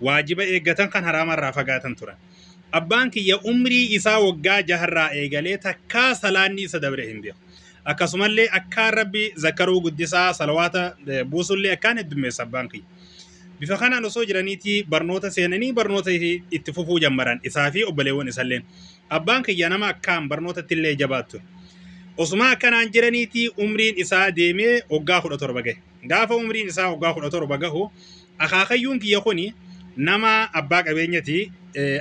waajiba eeggatan kan haraama irraa fagaatan turan. Abbaan kiyya umrii isaa waggaa jaharraa eegalee takkaa salaanni isa dabre hin beeku. Akkasumallee akkaan rabbi zakkaruu guddisaa salawaata buusullee akkaan heddummeessa abbaan kiyya. Bifa kanaan osoo jiraniitii barnoota seenanii barnoota itti fufuu jammaran isaa fi obboleewwan isalleen. Abbaan kiyya nama akkaan barnootatti illee jabaattu. Osuma akkanaan jiraniitii umriin isaa deemee waggaa kudha torba gahe. Gaafa umriin isaa waggaa kudha torba gahu akaakayyuun kiyya kun nama abbaa qabeenyati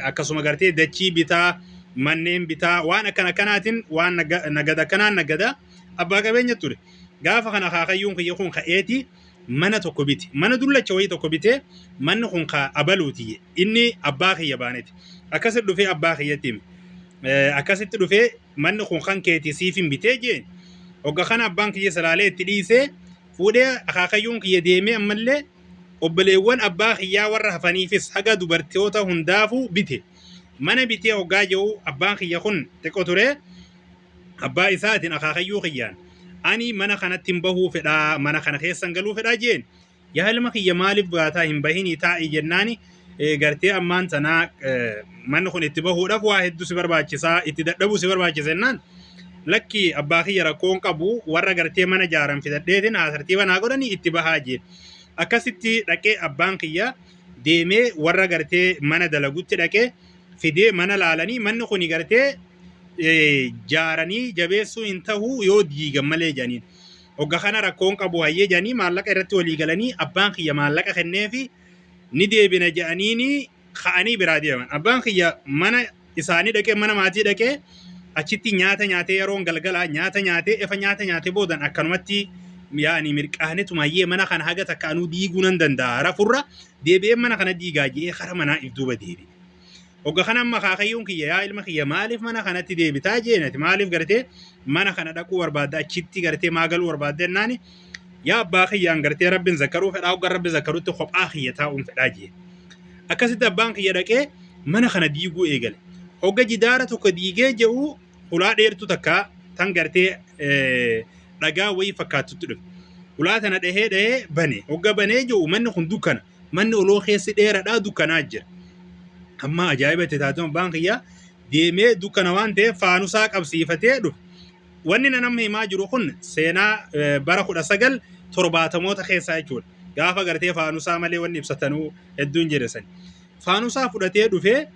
akkasuma gartee dachii bitaa manneen bitaa waan akkan akkanaatiin waan nagada akkanaan nagada abbaa qabeenya ture gaafa kan akaakayyuun kiyya kun ka'eeti mana tokko bite mana dullacha wayii tokko bite manni kun ka abaluuti inni abbaa kiyya baaneti akkasitti dhufee abbaa kiyyatti hime akkasitti dhufee manni kun kan keeti siifin bitee jeen hogga kana abbaan kiyya salaalee itti dhiisee Fuudhee akaakayyuun kiyya deemee ammallee obboleewwan abbaa kiyyaa warra hafaniifis haga dubartoota hundaafuu bite. Mana bitee hoggaa je'u abbaan kiyya kun xiqqo turee abbaa isaatiin akaakayyuu kiyyaan ani mana kanattin bahuu fedhaa mana kana keessan galuu fedhaa je'een. Yaa ilma kiyya maaliif baataa hin bahinii taa'i jennaani gartee ammaan tanaa manni kun itti bahuudhaaf waa hedduu si barbaachisaa itti dadhabuu si barbaachisa jennaan lakki abbaa kiyya rakkoo hin qabu warra gartee mana jaaran fidadheetiin haasartiiba naa godhanii itti bahaa jee akkasitti dhaqee abbaan kiyya deemee warra gartee mana dalagutti dhaqee fidee mana laalanii manni kun gartee jaaranii jabeessuu hin tahu yoo diigan malee jedhaniin. Hogga kana rakkoon qabu hayyee jedhanii maallaqa irratti walii galanii abbaan kiyya maallaqa kenneefi ni deebina jedhaniini ka'anii biraa deeman. Abbaan kiyya mana isaanii dhaqee mana maatii dhaqee achitti nyaata nyaatee yeroon galgalaa nyaata nyaatee efa nyaata nyaatee boodan akkanumatti yaani mirqaanetuma hayyee mana kana haga takka anuu diiguu nan danda'a rafurra deebi'ee mana kana diigaa je'ee kara manaa if duuba deebi'e. Hogga kana amma akaakayyuun kiyya yaa ilma kiyya maaliif mana kanatti deebitaa jeen ati maaliif gartee mana kana dhaquu barbaadda achitti gartee maa galuu barbaadda jennaani yaa abbaa kiyyaan gartee rabbiin zakkaruu fedhaa hogga rabbi zakkarutti kophaa kiyya taa'uun fedhaa jeen. Akkasitti abbaan kiyya dhaqee mana kana diiguu eegale. Hogga jidaara tokko diigee je'u hulaa dheertuu takka tan gartee eh, dhagaa wayii fakkaattutti dhufe. Hulaa tana dhahee dhahee bane. Hogga banee je'u manni kun dukkana. Manni oloo keessi dheeradha dukkanaa jira. Amma ajaa'iba itti taatee abbaan kiyyaa deemee dukkana waan ta'eef faanusaa qabsiifatee dhufe. Wanni nan amma himaa jiru kun seenaa eh, bara kudha sagal torbaatamoota keessaa jechuudha. Gaafa gartee faanusaa malee wanni ibsatanuu hedduun jira sani. Faanusaa fudhatee dhufee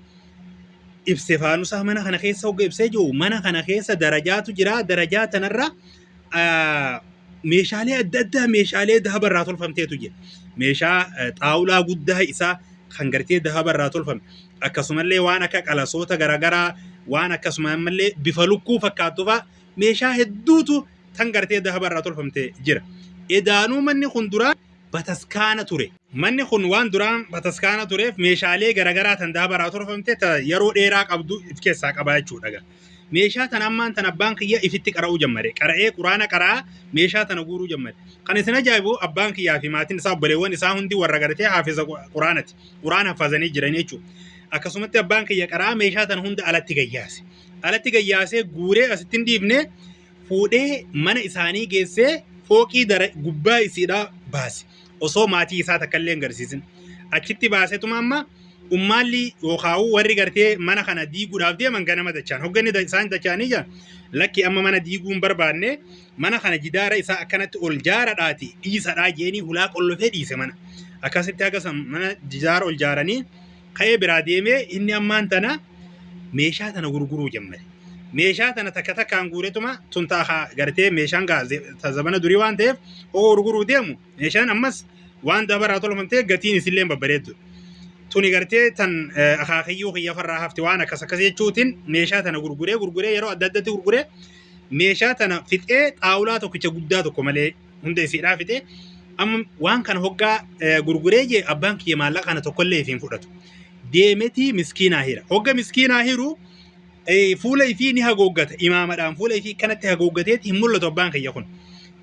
ibse faanusaa mana kana keessa hogga ibsee jiru mana kana keessa darajaatu jira darajaa tanarra meeshaalee adda addaa meeshaalee dahaba irraa tolfamteetu jira. Meeshaa xaawulaa guddaa isaa kan gartee dahaba irraa tolfame akkasumallee waan akka qalasoota garaagaraa waan akkasuma ammallee bifa lukkuu fakkaattu fa'a meeshaa hedduutu tan gartee dahaba irraa tolfamte jira. Edaanuu manni kun duraa bataskaana ture. Manni kun waan duraan bataskaana tureef meeshaalee garaagaraa tan dahaba irraa tolfamte yeroo dheeraa qabdu of keessaa qaba jechuudha. meeshaa tana ammaan tana abbaan kiyya ifitti qara'uu jammare qara'ee quraana qara'aa meeshaa tana guuruu jammare kan isin ajaa'ibu abbaan kiyyaa fi maatiin isaa obboleewwan isaa hundi warra garatee haafiza quraanati quraan hafazanii jiran jechuudha akkasumatti abbaan kiyya qara'aa meeshaa tana hunda alatti gayyaase alatti gayyaasee guuree asitti hin dhiibne fuudhee mana isaanii geessee fooqii dara gubbaa isiidhaa baase osoo maatii isaa takka illee hin garsiisin achitti baasetuma amma ummaalli yookaa'uu warri gartee mana kana diiguudhaaf deeman ganama dachaan hogganni da- isaan dachaanii jira lakki amma mana diiguu hin barbaanne mana kana jidaara isaa akkanatti ol jaaradhaati dhiisadhaa jeenii hulaa qollofee dhiise mana akkasitti haga san mana jidaara ol jaaranii ka'ee biraa deemee inni ammaan tana meeshaa tana gurguruu jammare. Meeshaa tana takka takkaan guuretuma tun taa gartee meeshaan gaa ze- ta zabana durii waan ta'eef hoo gurguruu deemu meeshaan ammas waan dabaraa tolfamtee gatiin isillee babbareeddu. Tuni gartee tan eh, akaakayyuu kiyya farraa hafte waan akkas akkas jechuutiin meeshaa tana gurguree gurguree yeroo adda addatti gurguree meeshaa tana fixee xaawulaa tokkicha guddaa tokko malee hunda isiidhaa fide amma waan kana hoggaa eh, gurguree jee abbaan kiyya maallaqa kana tokkollee ifiin fudhatu deemetii miskiinaa hira hogga miskiinaa hiru eh, fuula ifii ni hagooggata imaamadhaan fuula ifii kanatti hagooggateeti hin mul'atu abbaan kiyya kun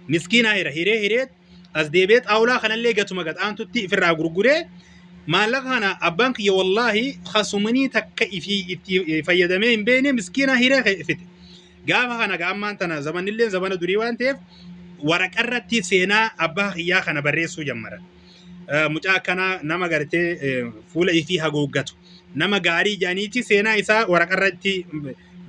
miskiinaa hira hiree hiree as deebee xaawulaa kanallee gatuma gad aantutti ifirraa gurguree maallaqa kana abbaan kiyya wallaahi kasumanii takka ifii itti eh, fayyadamee hin beekne miskiinaa hiree fite Gaafa kana ga ammaan tana zamannillee zamana durii waan ta'eef waraqarratti seenaa abbaa kiyyaa kana barreessuu jammaran. Eh, Mucaa akkanaa nama gartee eh, fuula isii hagooggatu nama gaarii jedhaniiti seenaa isaa waraqarratti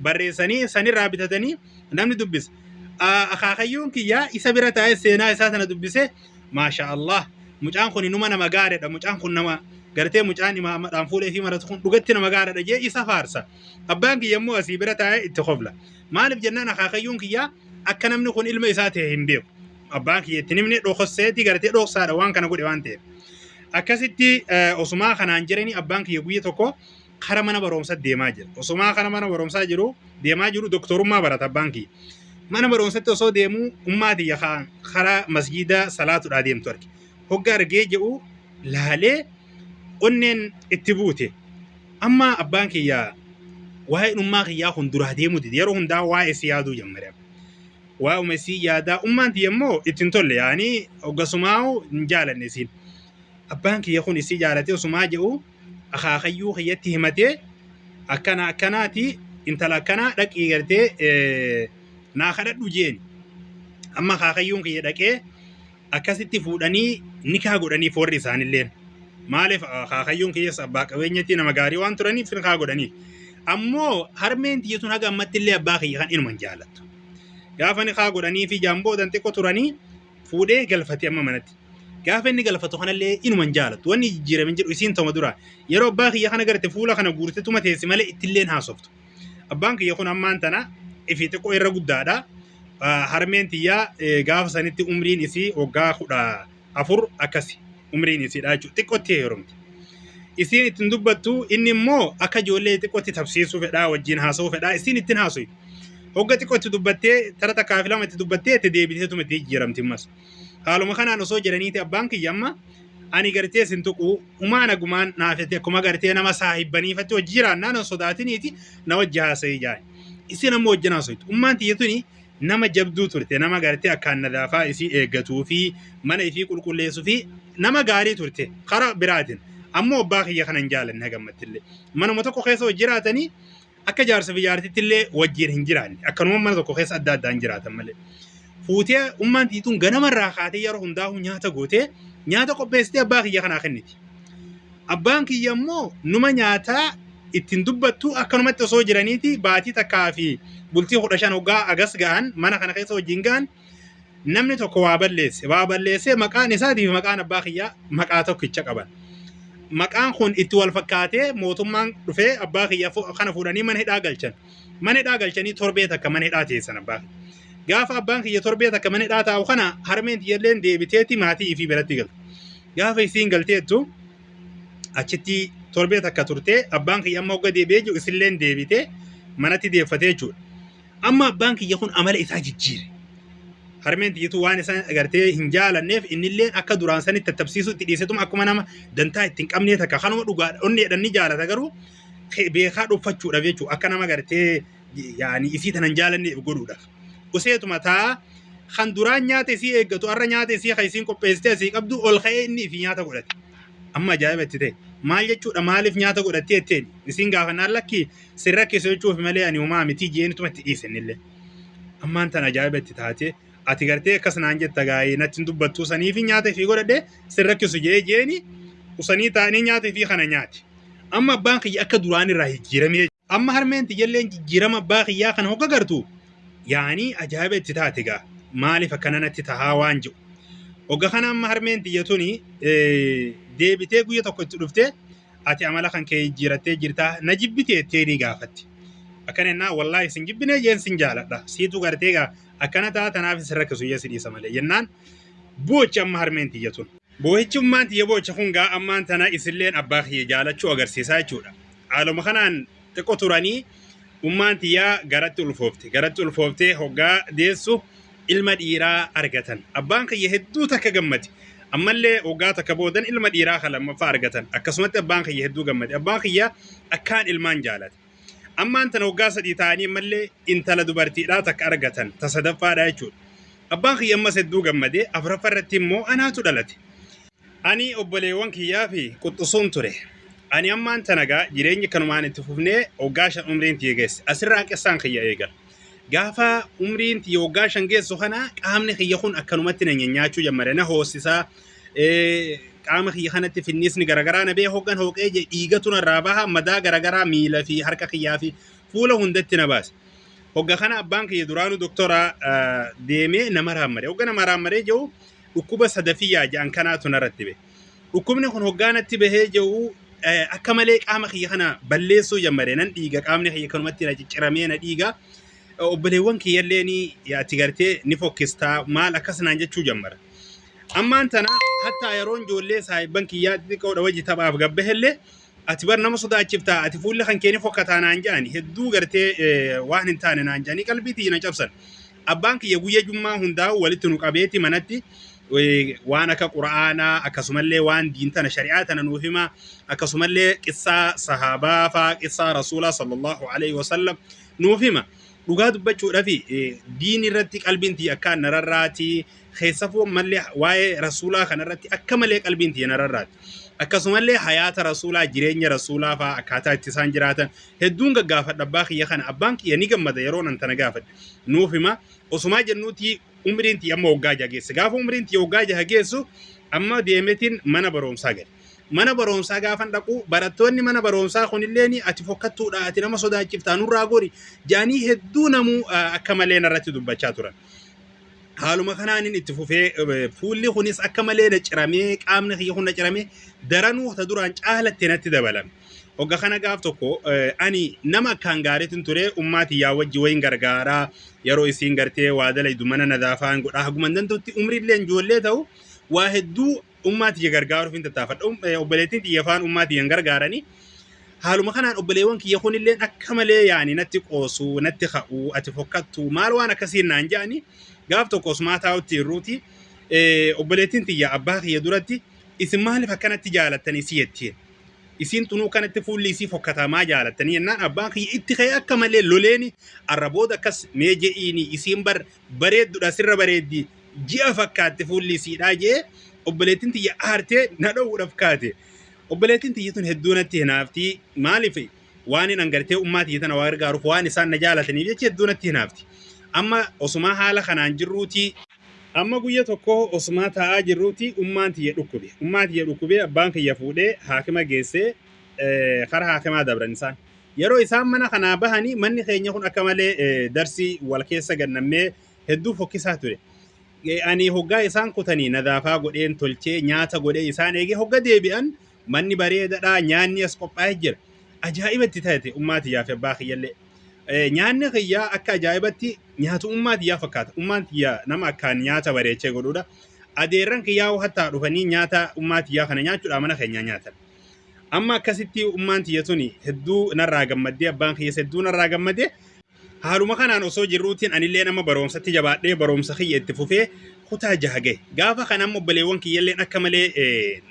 barreessanii sanirraa bitatanii namni dubbisa. Ah, Akaakayyuun kiyyaa isa bira taa'ee seenaa isaa sana dubbise maasha Allah mucaan kun inuma nama gaariidha mucaan kun nama gartee mucaan imaammadhaan fuula isii maratu kun dhugatti nama gaariidha jee isa faarsa. Abbaan kiyya immoo asii bira taa'ee itti kofla. Maaliif jennaan akaakayyuun kiyyaa akka namni kun ilma isaa ta'e hin beeku. Abbaan kiyya itti himne dhokosseetii gartee dhoksaadha waan kana godhe waan ta'eef. Akkasitti eh, osumaa kanaan jiranii abbaan kiyya guyya tokko kara mana barumsaa deemaa jira. Osumaa kara mana barumsaa jiru deemaa jiru doktorummaa barata abbaan kiyya. Mana barumsatti osoo deemuu ummaa tiyya ka- karaa masjiidaa salaatudhaa deemtu arge. hogga argee je'u laalee onneen itti buute amma abbaan kiyya waa'een ummaa kiyyaa kun duraa deemuu dide yeroo hundaa waa'ee si yaaduu jammare waa'uma isii yaadaa ummaan tiyya immoo itti hin tolle yaanii hoggasumaa'u hin jaalanne isiin abbaan kiyya kun isii jaalatee osumaa je'u akaakayyuu kiyyatti himatee akkana akkanaati intala akkanaa dhaqii gartee eh, naa kadhadhu jeeni amma akaakayyuun kiyya dhaqee akkasitti fuudhanii nikaa godhaniif warri isaanilleen maaliif akaakayyuun kiyyaas abbaa qabeenyatti nama gaarii waan turaniif nikaa godhaniif ammoo harmeen tiyya tun haga ammatti illee abbaa kiyya kan inuman jaalattu gaafa nikaa godhanii fi jaamboodan xiqqoo turanii fuudhee galfate amma manatti gaafa inni galfatu kanallee inuman jaalattu wanni jijjiirame hin jiru isiin toma dura yeroo abbaa kiyya kana garte fuula kana guurte tuma teessi malee ittilleen haasoftu Abbaan kiyya kun ammaan tana ifi xiqqoo irra guddaadha. Ah, Harmeen tiyyaa eh, gaafa sanitti umriin isii waggaa kudha afur akkasi umriin isiidha jechuudha. Xiqqootti heerumte. Isiin ittiin dubbattu inni immoo akka ijoollee xiqqootti tapsiisuu fedhaa wajjin haasa'uu fedhaa isiin ittiin haasa'u. Hogga xiqqootti dubbattee tara takkaa fi lama itti dubbattee itti deebiteetuma itti jijjiiramti ammas. Haaluma kanaan osoo jiraniiti abbaan kiyya amma ani gartee sin tuquu humaa nagumaan naafete akkuma gartee nama saahibbaniifatti hojii jiraannaa nan sodaatiniiti na wajji haasa'ii jaani. Isin amma wajjin haasa'utti. Ummaan tiyya tuni nama jabduu turte nama gartee akkaan nadaafaa isii eeggatuu fi mana isii qulqulleessuu fi nama gaarii turte karaa biraatiin. Ammoo abbaa kiyya kanan jaalanne hagammattillee. Manuma tokko keessa hojii jiraatanii Akka jaarsa biyyaartitti illee wajjin hin jiraanne. Akkanuma mana tokko keessa adda addaan jiraatan malee. Fuutee ummaan tiituun ganama irraa kaatee yeroo hundaa'uu nyaata gootee nyaata qopheessitee abbaa kiyya kanaa kenniti. Abbaan kiyya immoo numa nyaataa ittiin dubbattu akkanumatti osoo jiraniiti baatii takkaa fi bultii kudha shan hoggaa agas ga'an mana kana keessa wajjin ga'an namni tokko waa balleesse waa balleessee maqaan isaatii fi maqaan abbaa kiyyaa maqaa tokkicha qaban maqaan kun itti wal fakkaatee mootummaan dhufee abbaa kiyya fu- kana fuudhanii mana hidhaa galchan mana hidhaa galchanii torbee takka mana hidhaa teessan abbaa kiyya. gaafa abbaan kiyya torbee takka mana hidhaa taa'u kana harmeen tiyyalleen deebiteeti maatii ifii biratti galte gaafa isiin galteettu achitti torbee takka turtee abbaan kiyya amma hogga deebi'ee jiru isilleen deebitee manatti deeffatee jechuudha. Amma abbaan kiyya kun amala isaa jijjiire. Harmeen tiyyatuu waan isaan agartee hin jaalanneef innillee akka duraan sanitti tattabsiisuu itti dhiisetuma akkuma nama dantaa itti hin qabnee takka kanuma dhugaa onneedhaan ni jaalata garuu ke- beekaa dhoffachuudhaaf jechuudha akka nama agartee yaani isii tanan jaalanneef godhuudhaaf. Useetuma taa kan duraan nyaata isii eeggatu har'a nyaata isii kan isiin qopheessitee asii qabdu ol ka'ee inni ifi nyaata godhate. Amma ajaa'iba itti ta'e. Maal jechuudha maaliif nyaata godhattee jetteen isiin gaafannaan lakkii sin rakkisu jechuuf malee ani homaa miti jeen tuma itti dhiise innillee. Ammaan tan ajaa'iba itti taate ati gartee akkas naan jetta gaa'ee natti hin dubbattuu sanii fi nyaata fi godhadhe sin rakkisu jee jeeni usanii taa'anii nyaata fi kana nyaati. Amma abbaan kiyya akka duraan irraa jijjiiramee amma harmeen tiyyailleen jijjiirama abbaa kiyyaa kana hogga gartu yaanii ajaa'iba itti taate gaa maaliif akkana natti tahaa waan jedhu. Hogga kana amma harmeen tiyya tuni deebitee guyya tokko itti dhuftee ati amala kan kee jijjiirattee jirtaa na jibbite jettee ni gaafatte. Akkana jennaan wallaahi sin jibbinee jeen sin jaaladha. Siitu gartee gaa akkana ta'a tanaaf sin rakkisu jee si dhiisa malee jennaan boochi amma harmeen tiyya tun. Boohichummaan tiyya boocha kun gaa ammaan tana isilleen abbaa kiyya jaalachuu agarsiisaa jechuudha. Haaluma kanaan xiqqo turanii ummaan tiyyaa garatti ulfoofte garatti ulfooftee hoggaa deessu ilma dhiiraa argatan abbaan kiyya hedduu takka gammade ammallee hoggaa takka boodan ilma dhiiraa kan lammaffaa argatan akkasumatti abbaan kiyya hedduu gammade abbaan kiyya akkaan ilmaan jaalate ammaan tana hoggaa sadii ta'anii ammallee intala dubartiidhaa takka argatan ta sadaffaadhaa jechuudha abbaan kiyya ammas hedduu gammade afraffa irratti immoo anaatu dhalate Ani obboleewwan kiyyaa fi quxxusuun ture. Ani ammaan tana gaa jireenyi kanumaan itti fufnee waggaa shan umriin tiyya geesse. Asirraa qissaan kiyya eegala. Gaafa umriin tiyya waggaa shan geessu kana qaamni kiyya kun akkanumatti na nyanyaachuu jammare na hoossisa. Qaama kiyya kanatti finniisni garagaraa na bee hoggan hooqee jee dhiigatu narraa baha madaa garagaraa miila fi harka kiyyaa fi fuula hundatti na baasa. Hogga kana abbaan kiyya duraanuu doktora deemee nama raammadee. Hogga nama raammadee jiru Dhukkuba sadafiyyaa ja'an kanaatu narratti bahe. Dhukkubni kun hoggaa natti bahee jiru eh, akka malee qaama kiyya kana balleessuu jammare nan dhiiga qaamni kiyya kanumatti na cicciramee na dhiiga. Eh, Obboleewwan kiyyallee ni ati gartee ni fokkistaa maal akkas naan jechuu jammara. Ammaan tana hattaa yeroon ijoollee saahibban kiyyaa xixiqqoodha wajji taphaaf gabbahellee ati bar nama sodaachiftaa ati fuulli kan keenya fokkataa naan jedhani hedduu gartee eh, waan hin taane naan jedhanii qalbii tiyya na cabsan abbaan kiyya guyya jummaa hundaa walitti nu qabeeti manatti eh, waan akka qura'aanaa akkasumallee waan diin tana shari'aa tana nuuf hima akkasumallee qissaa sahaabaa faa qissaa rasuulaa sallallahu alaihi wasallam nuuf hima dhugaa dubbachuudhafi eh, diin irratti qalbiin tiyya akkaan nararraati Keessafuu ammallee waa'ee rasuulaa kanarratti akka malee qalbiin tiyya na rarraati. Akkasumallee hayaata rasuulaa, jireenya rasuulaa fa'aa akkaataa itti isaan jiraatan hedduun gaggaafadha abbaa kiyya kana. Abbaan kiyya ni gammada yeroo nan tana gaafadhe. Nuuf hima. Osumaa jennuuti umriin tiyya amma waggaa jaha geesse. Gaafa umriin tiyya waggaa jaha geessu amma deemetiin mana barumsaa gale. Mana barumsaa gaafan dhaqu barattoonni mana barumsaa kunillee ni ati fokkattuudha ati nama sodaachiftaa nurraa gori jaanii hedduu namuu ah, akka malee narratti dubbachaa turan. Haaluma kanaanin itti fufee eh, fuulli kunis akka malee na ciramee qaamni kiyya kun na ciramee daranuu ta duraan caalattee natti dabalame. Hogga kana gaaf tokko eh, ani nama akkaan gaariitin ture ummaa tiyyaa wajji wayin gargaaraa yeroo isiin gartee waa dalaydu mana nadaafaan godhaa haguma hin danda'utti umriillee ijoollee ta'u waa hedduu ummaa tiyya gargaaruuf hin tattaafadha. Um- eh, Obboleettiin tiyya faan ummaa tiyyan gargaaranii haaluma kanaan obboleewwan kiyya kunilleen akka malee yaani natti qoosuu, natti ka'uu, ati fokkattuu maal waan akkasiin naan ja'anii gaaf tokko osmaa taa'utti irruuti eh, obboleettiin tiyya abbaa kiyya duratti isin maaliif akkanatti jaalattanii si jettiin. isiin tunuu kanatti fuulli isii fokkataa maa jaalattanii jennaan abbaan kiyya itti ka'ee akka malee loleeni arra booda akkas mee je'iini isiin bar bareeddudha sirra bareeddi ji'a fakkaatte fuulli isiidhaa jee obboleettiin tiyya aartee na dhowwuudhaaf kaate obboleettiin tiyyi tun hedduu natti hinaafti maaliif waan hin angartee ummaa tiyya tana waa gargaaruuf waan isaan na jaalataniif jecha hedduu natti hinaafti amma osumaa haala kanaan jirruuti amma guyya tokko osumaa taa'aa jirruuti ummaan tiyya dhukkube ummaa tiyya dhukkubee abbaan kiyya fuudhee haakima geessee eh, kara haakimaa dabran isaan Yeroo isaan mana kanaa bahanii manni keenya kun akka malee darsii wal keessa gannamnee hedduu fokkisaa ture. Ani hoggaa isaan kutanii nadaafaa godheen tolchee nyaata godhee isaan eegee hogga deebi'an manni bareedadhaa nyaanni as qophaa'ee jira. Ajaa'iba itti taate ummaa tiyyaa fi abbaa kiyyallee. Nyaanni kiyyaa akka ajaa'ibatti nyaatu ummaa tiyyaa fakkaata. Ummaan tiyyaa nama akkaan nyaata bareechee godhuudha. Adeerran kiyyaa hattaa dhufanii nyaata ummaa tiyyaa kana nyaachuudhaa mana keenyaa nyaatan. Amma akkasitti ummaan tiyya tuni hedduu narraa gammaddee abbaan kiyyas hedduu narraa gammadee haaluma kanaan osoo jirruutiin anillee nama barumsatti jabaadhee barumsa kiyya itti fufee kutaa jaha gahe. Gaafa kana amma obboleewwan kiyyalleen akka malee eh,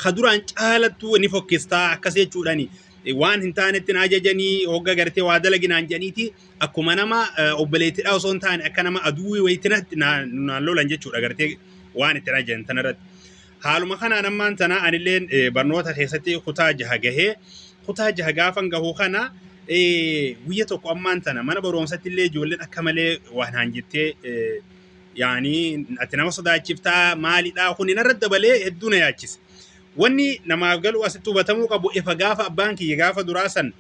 ka duraan caalattuu ni fokkistaa akkas jechuudhaan eh, waan hin taanetti na ajajanii hogga gartee waa dalaginaan jedhaniiti akkuma nama eh, obboleettidhaa osoo hin taane akka nama aduwwii wayitti natti na- naan lolan jechuudha gartee waan itti na ajajan tanarratti. Haaluma kanaan ammaan tana anilleen eh, barnoota keessatti kutaa jaha gahee kutaa jaha gaafan gahu kana eh, guyya tokko ammaan tana mana barumsatti illee ijoolleen akka malee waan haan jettee eh, yaanii ati nama sodaachiftaa maalidhaa kun narra dabalee hedduu na yaachise. Wanni namaaf galu asitti hubatamuu qabu efa gaafa abbaan kiyya gaafa duraa san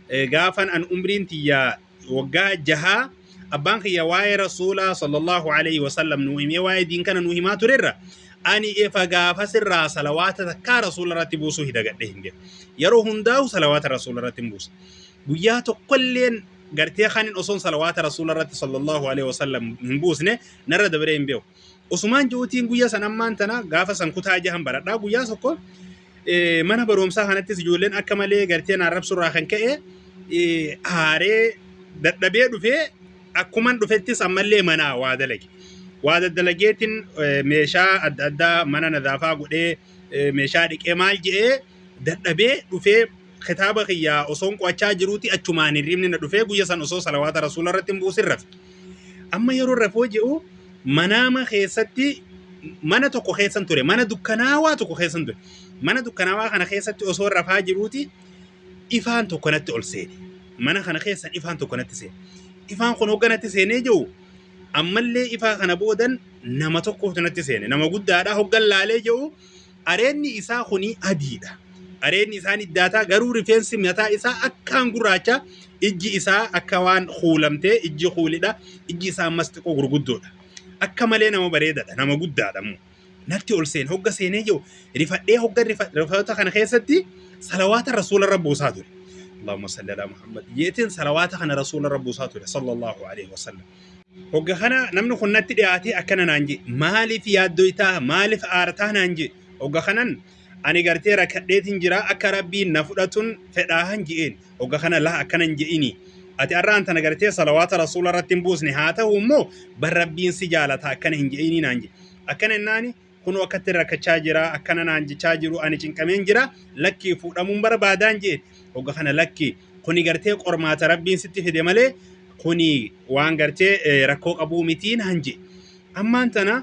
eh, gaafan an umriin tiyya waggaa jahaa abbaan kiyya waa'ee rasuulaa sallallahu alaihi wasallam nuu himee waa'ee diin kana nuu himaa turerra ani efa gaafa sirraa salawaata takkaa rasuula irratti buusuu hidagadhe hin jedhe yeroo hundaa'u salawaata rasuula irratti hin buusa guyyaa tokkolleen gartee kanin osoon salawaata rasuula irratti sallallahu alaihi wasallam hin buusne narra dabaree hin beeku Osumaan ji'uutiin guyya san ammaan tana gaafa san kutaa jahan baradhaa guyyaa tokko eh, mana barumsaa kanattis ijoolleen akka malee gartee naan rabsurraa kan ka'e eh, aaree dadhabee dhufee akkuman dhufettis ammallee manaa waa dalage. Waa daddalageetiin eh, meeshaa adda addaa mana nadaafaa godhee eh, meeshaa dhiqee maal je'ee dadhabee dhufee Kitaaba kiyya osoon qo'achaa jiruuti achumaan hirribni na dhufee guyya san osoo salawaata rasuula irratti hin buusin rafe. Amma yeroo rafoo je'u manaama keessatti mana tokko keessan ture mana dukkanaawaa tokko keessan ture mana dukkanaawaa kana keessatti osoo rafaa jiruuti ifaan tokko natti ol seene mana kana keessan ifaan tokko natti seene ifaan kun hogga natti seenee jiru ammallee ifaa kana boodan nama tokkootu natti seene nama guddaadha hoggan laalee jiru Areedni isaa kuni adii dha. Areedni isaa niddaataa garuu rifeensi mataa isaa akkaan gurraacha ijji isaa akka waan kuulamtee ijji kuulidha ijji isaa ammas xiqqoo gurguddoodha. Akka malee nama bareedadha nama guddaadha immoo. Natti ol seene hogga seenee jiru rifadhee hogga rifa- rifatoota kana keessatti salawaata rasuularra buusaa ture. Allahumma salli ala Muhammad. Jeetiin salawaata kana rasuularra buusaa ture sallallahu alaihi wasallam. Hogga kana namni kun natti dhiyaatee akkana naan jee maaliif yaaddoytaa maaliif aartaa naan jee hogga kanan ani gartee rakkadheetiin jira akka rabbiin na fudhatun fedhaahan je'een hogga kana laa akkanan je'ini ati arraan tana gartee salawaata rasuula irratti hin buusne haa ta'u immoo bar rabbiin si jaalata akkana hin je'inii naan jee akkana jennaani Kunoo akkatti rakkachaa jira akkana naan jechaa jiru ani cinqameen jira lakkii fuudhamuun barbaadaan jeen hogga kana lakkii kuni gartee qormaata rabbiin sitti fide malee kuni waan gartee eh, rakkoo qabuu mitii naan jee ammaan tana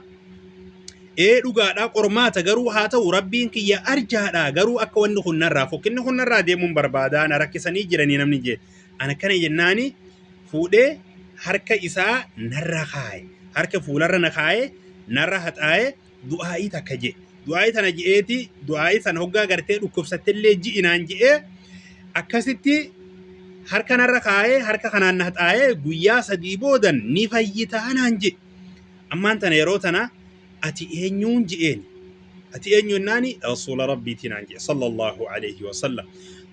ee dhugaadhaa qormaata garuu haa ta'u rabbiin kiyya arjaadhaa garuu akka wanni kun narraa fokkinni kun narraa deemuun barbaadaa na rakkisanii jiranii namni jee An akkana jennaani fuudhee harka isaa narra kaaye. Harka fuularra na kaaye, narra haxaaye, du'aa'ii takka je'e. Du'aa'ii tana je'eeti, du'aa'ii san hoggaa gartee dhukkubsattellee ji'i naan je'ee akkasitti harka narra kaaye, harka kanaan na haxaaye guyyaa sadii boodan ni fayyitaa naan je'e. Ammaan tana yeroo tana ati eenyuun je'een. Ati eenyu jennaani rasuula rabbiitii naan je'e sallallahu alayhi wa sallam.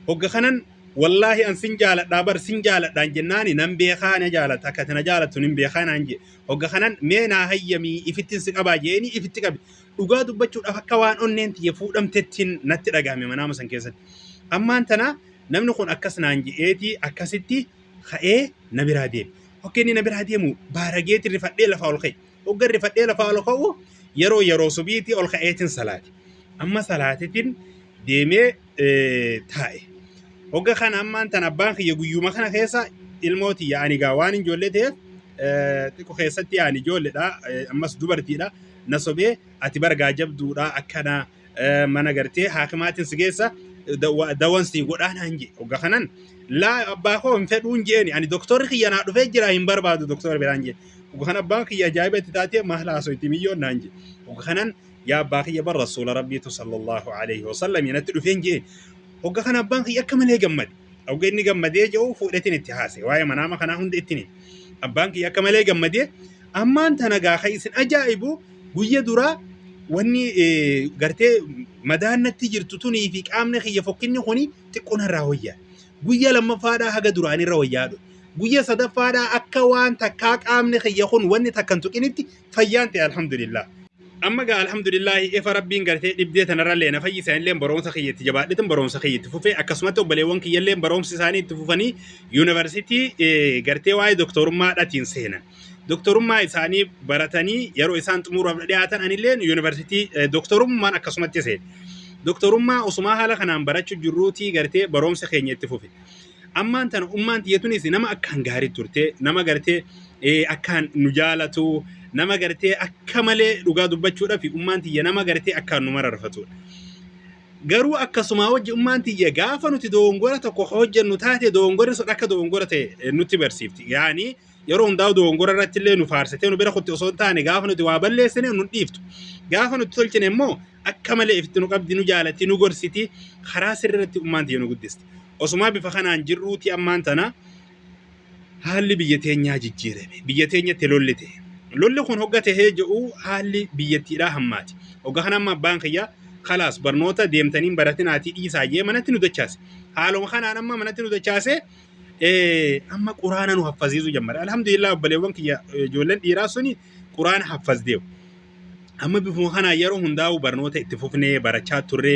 Hogga kanan Wallaahi an sin jaaladha bar sin jaaladhaan jennaani nan beekaa na jaalata akka ati na jaalattu nin beekaa naan jee hogga kanan mee naa hayyamii ifittin si qabaa jeeni ifitti qabe dhugaa dubbachuudhaaf akka waan onneen tiyya fuudhamtettiin natti dhagahame manaama san keessatti ammaan tana namni kun akkas naan je'eeti akkasitti ka'ee na biraa deeme hogga inni na biraa deemu baarageeti rifadhee lafaa ol ka'e Hogga rifadhee lafaa ol ka'u yeroo yeroo subiitii ol ka'eetiin salaate. Amma salaateetiin deemee taa'e. Hogga kana ammaan tan abbaan kiyya guyyuma kana keessa ilmoo tiyya ani gaa waan hin joollee ta'eef xiqqo keessatti ani ijoolledha ammas dubartiidha na sobee ati bargaa jabduudha akkanaa mana gartee haakimaatiin si geessa dawan si godhaa naan jee hogga kanan laa abbaa koo hin fedhuun jeeni ani doktorri kiyya naa dhufee jira hin barbaadu doktorri biraan jee hogga kan abbaan kiyya ajaa'iba itti taatee maal haasoo itti miyyoon naan jee hogga kanan yaa abbaa kiyya bar rasuula rabbiitu sallallahu alaihi wasallam yanatti dhufeen jee hogga kan abbaan kiyya akka malee gammade hogga inni gammadee je'u fuudhetiin itti haase waa'ee manaama kanaa hunda ittiin abbaan kiyya akka malee gammadee Ammaan tana gaa kan isin ajaa'ibu guyya duraa wanni eh, gartee madaan natti jirtu tunii fi qaamni kiyya fokkinni kuni xiqqoo narraa wayyaa. Guyya lammaffaadhaa haga duraanirra wayyaa dhufe. Guyya sadaffaadhaa akka waan takkaa qaamni kiyya kun wanni takkan tuqinitti fayyaan ta'e alhamdulillah. Amma gaa alhamdulillaahi efa rabbiin gartee dhibdee tanarrallee na fayyise anilleen barumsa kiyya itti jabaadhetin barumsa kiyya itti fufee akkasumatti obboleewwan kiyyalleen barumsi isaanii itti fufanii yuunivarsiitii eh, gartee waa'ee doktorummaadhatiin seenan. doktorummaa isaanii baratanii yeroo isaan xumuraaf dhiyaatan anillee yuunivarsiitii doktorummaan akkasumatti seene. Doktorummaa osumaa haala kanaan barachuu jirruutii gartee barumsa keenya itti fufe. Ammaan tana ummaan tiyyatunis nama akkaan gaarii turte nama gartee akkaan nu jaalatu nama gartee akka malee dhugaa dubbachuudhaaf ummaan tiyya nama gartee akkaan nu mararfatudha. Garuu akkasumaa wajji ummaan tiyya gaafa nuti doongora tokko hojjennu taate doongorri sun akka doongora ta'e nutti barsiifti. Yaani yeroo hundaa'u dogongora irratti illee nu faarsitee nu bira kutti osoo hin taane gaafa nuti waa balleessine nu dhiiftu. Gaafa nuti tolchine immoo akka malee ifti nu qabdi nu jaalatti nu gorsiti karaa sirrii irratti ummaan tiyya nu guddisti. Osumaa bifa kanaan jirruuti ammaan tana haalli biyya teenyaa jijjiirame. Biyya teenyatti lolli ta'e. Lolli kun hogga ta'ee jedhu haalli biyyattiidhaa hammaati. Hogga kana amma abbaan kiyya kalaas barnoota deemtaniin baratinaatii dhiisaa jee manatti nu dachaase. Haaluma kanaan amma manatti nu dachaasee amma quraana nu haffaziisu jammare alhamdulillah obbaleewwan kiyya ijoolleen dhiiraa suni quraana haffazdeewu amma bifuma kanaa yeroo hundaa'u barnoota itti fufnee barachaa turre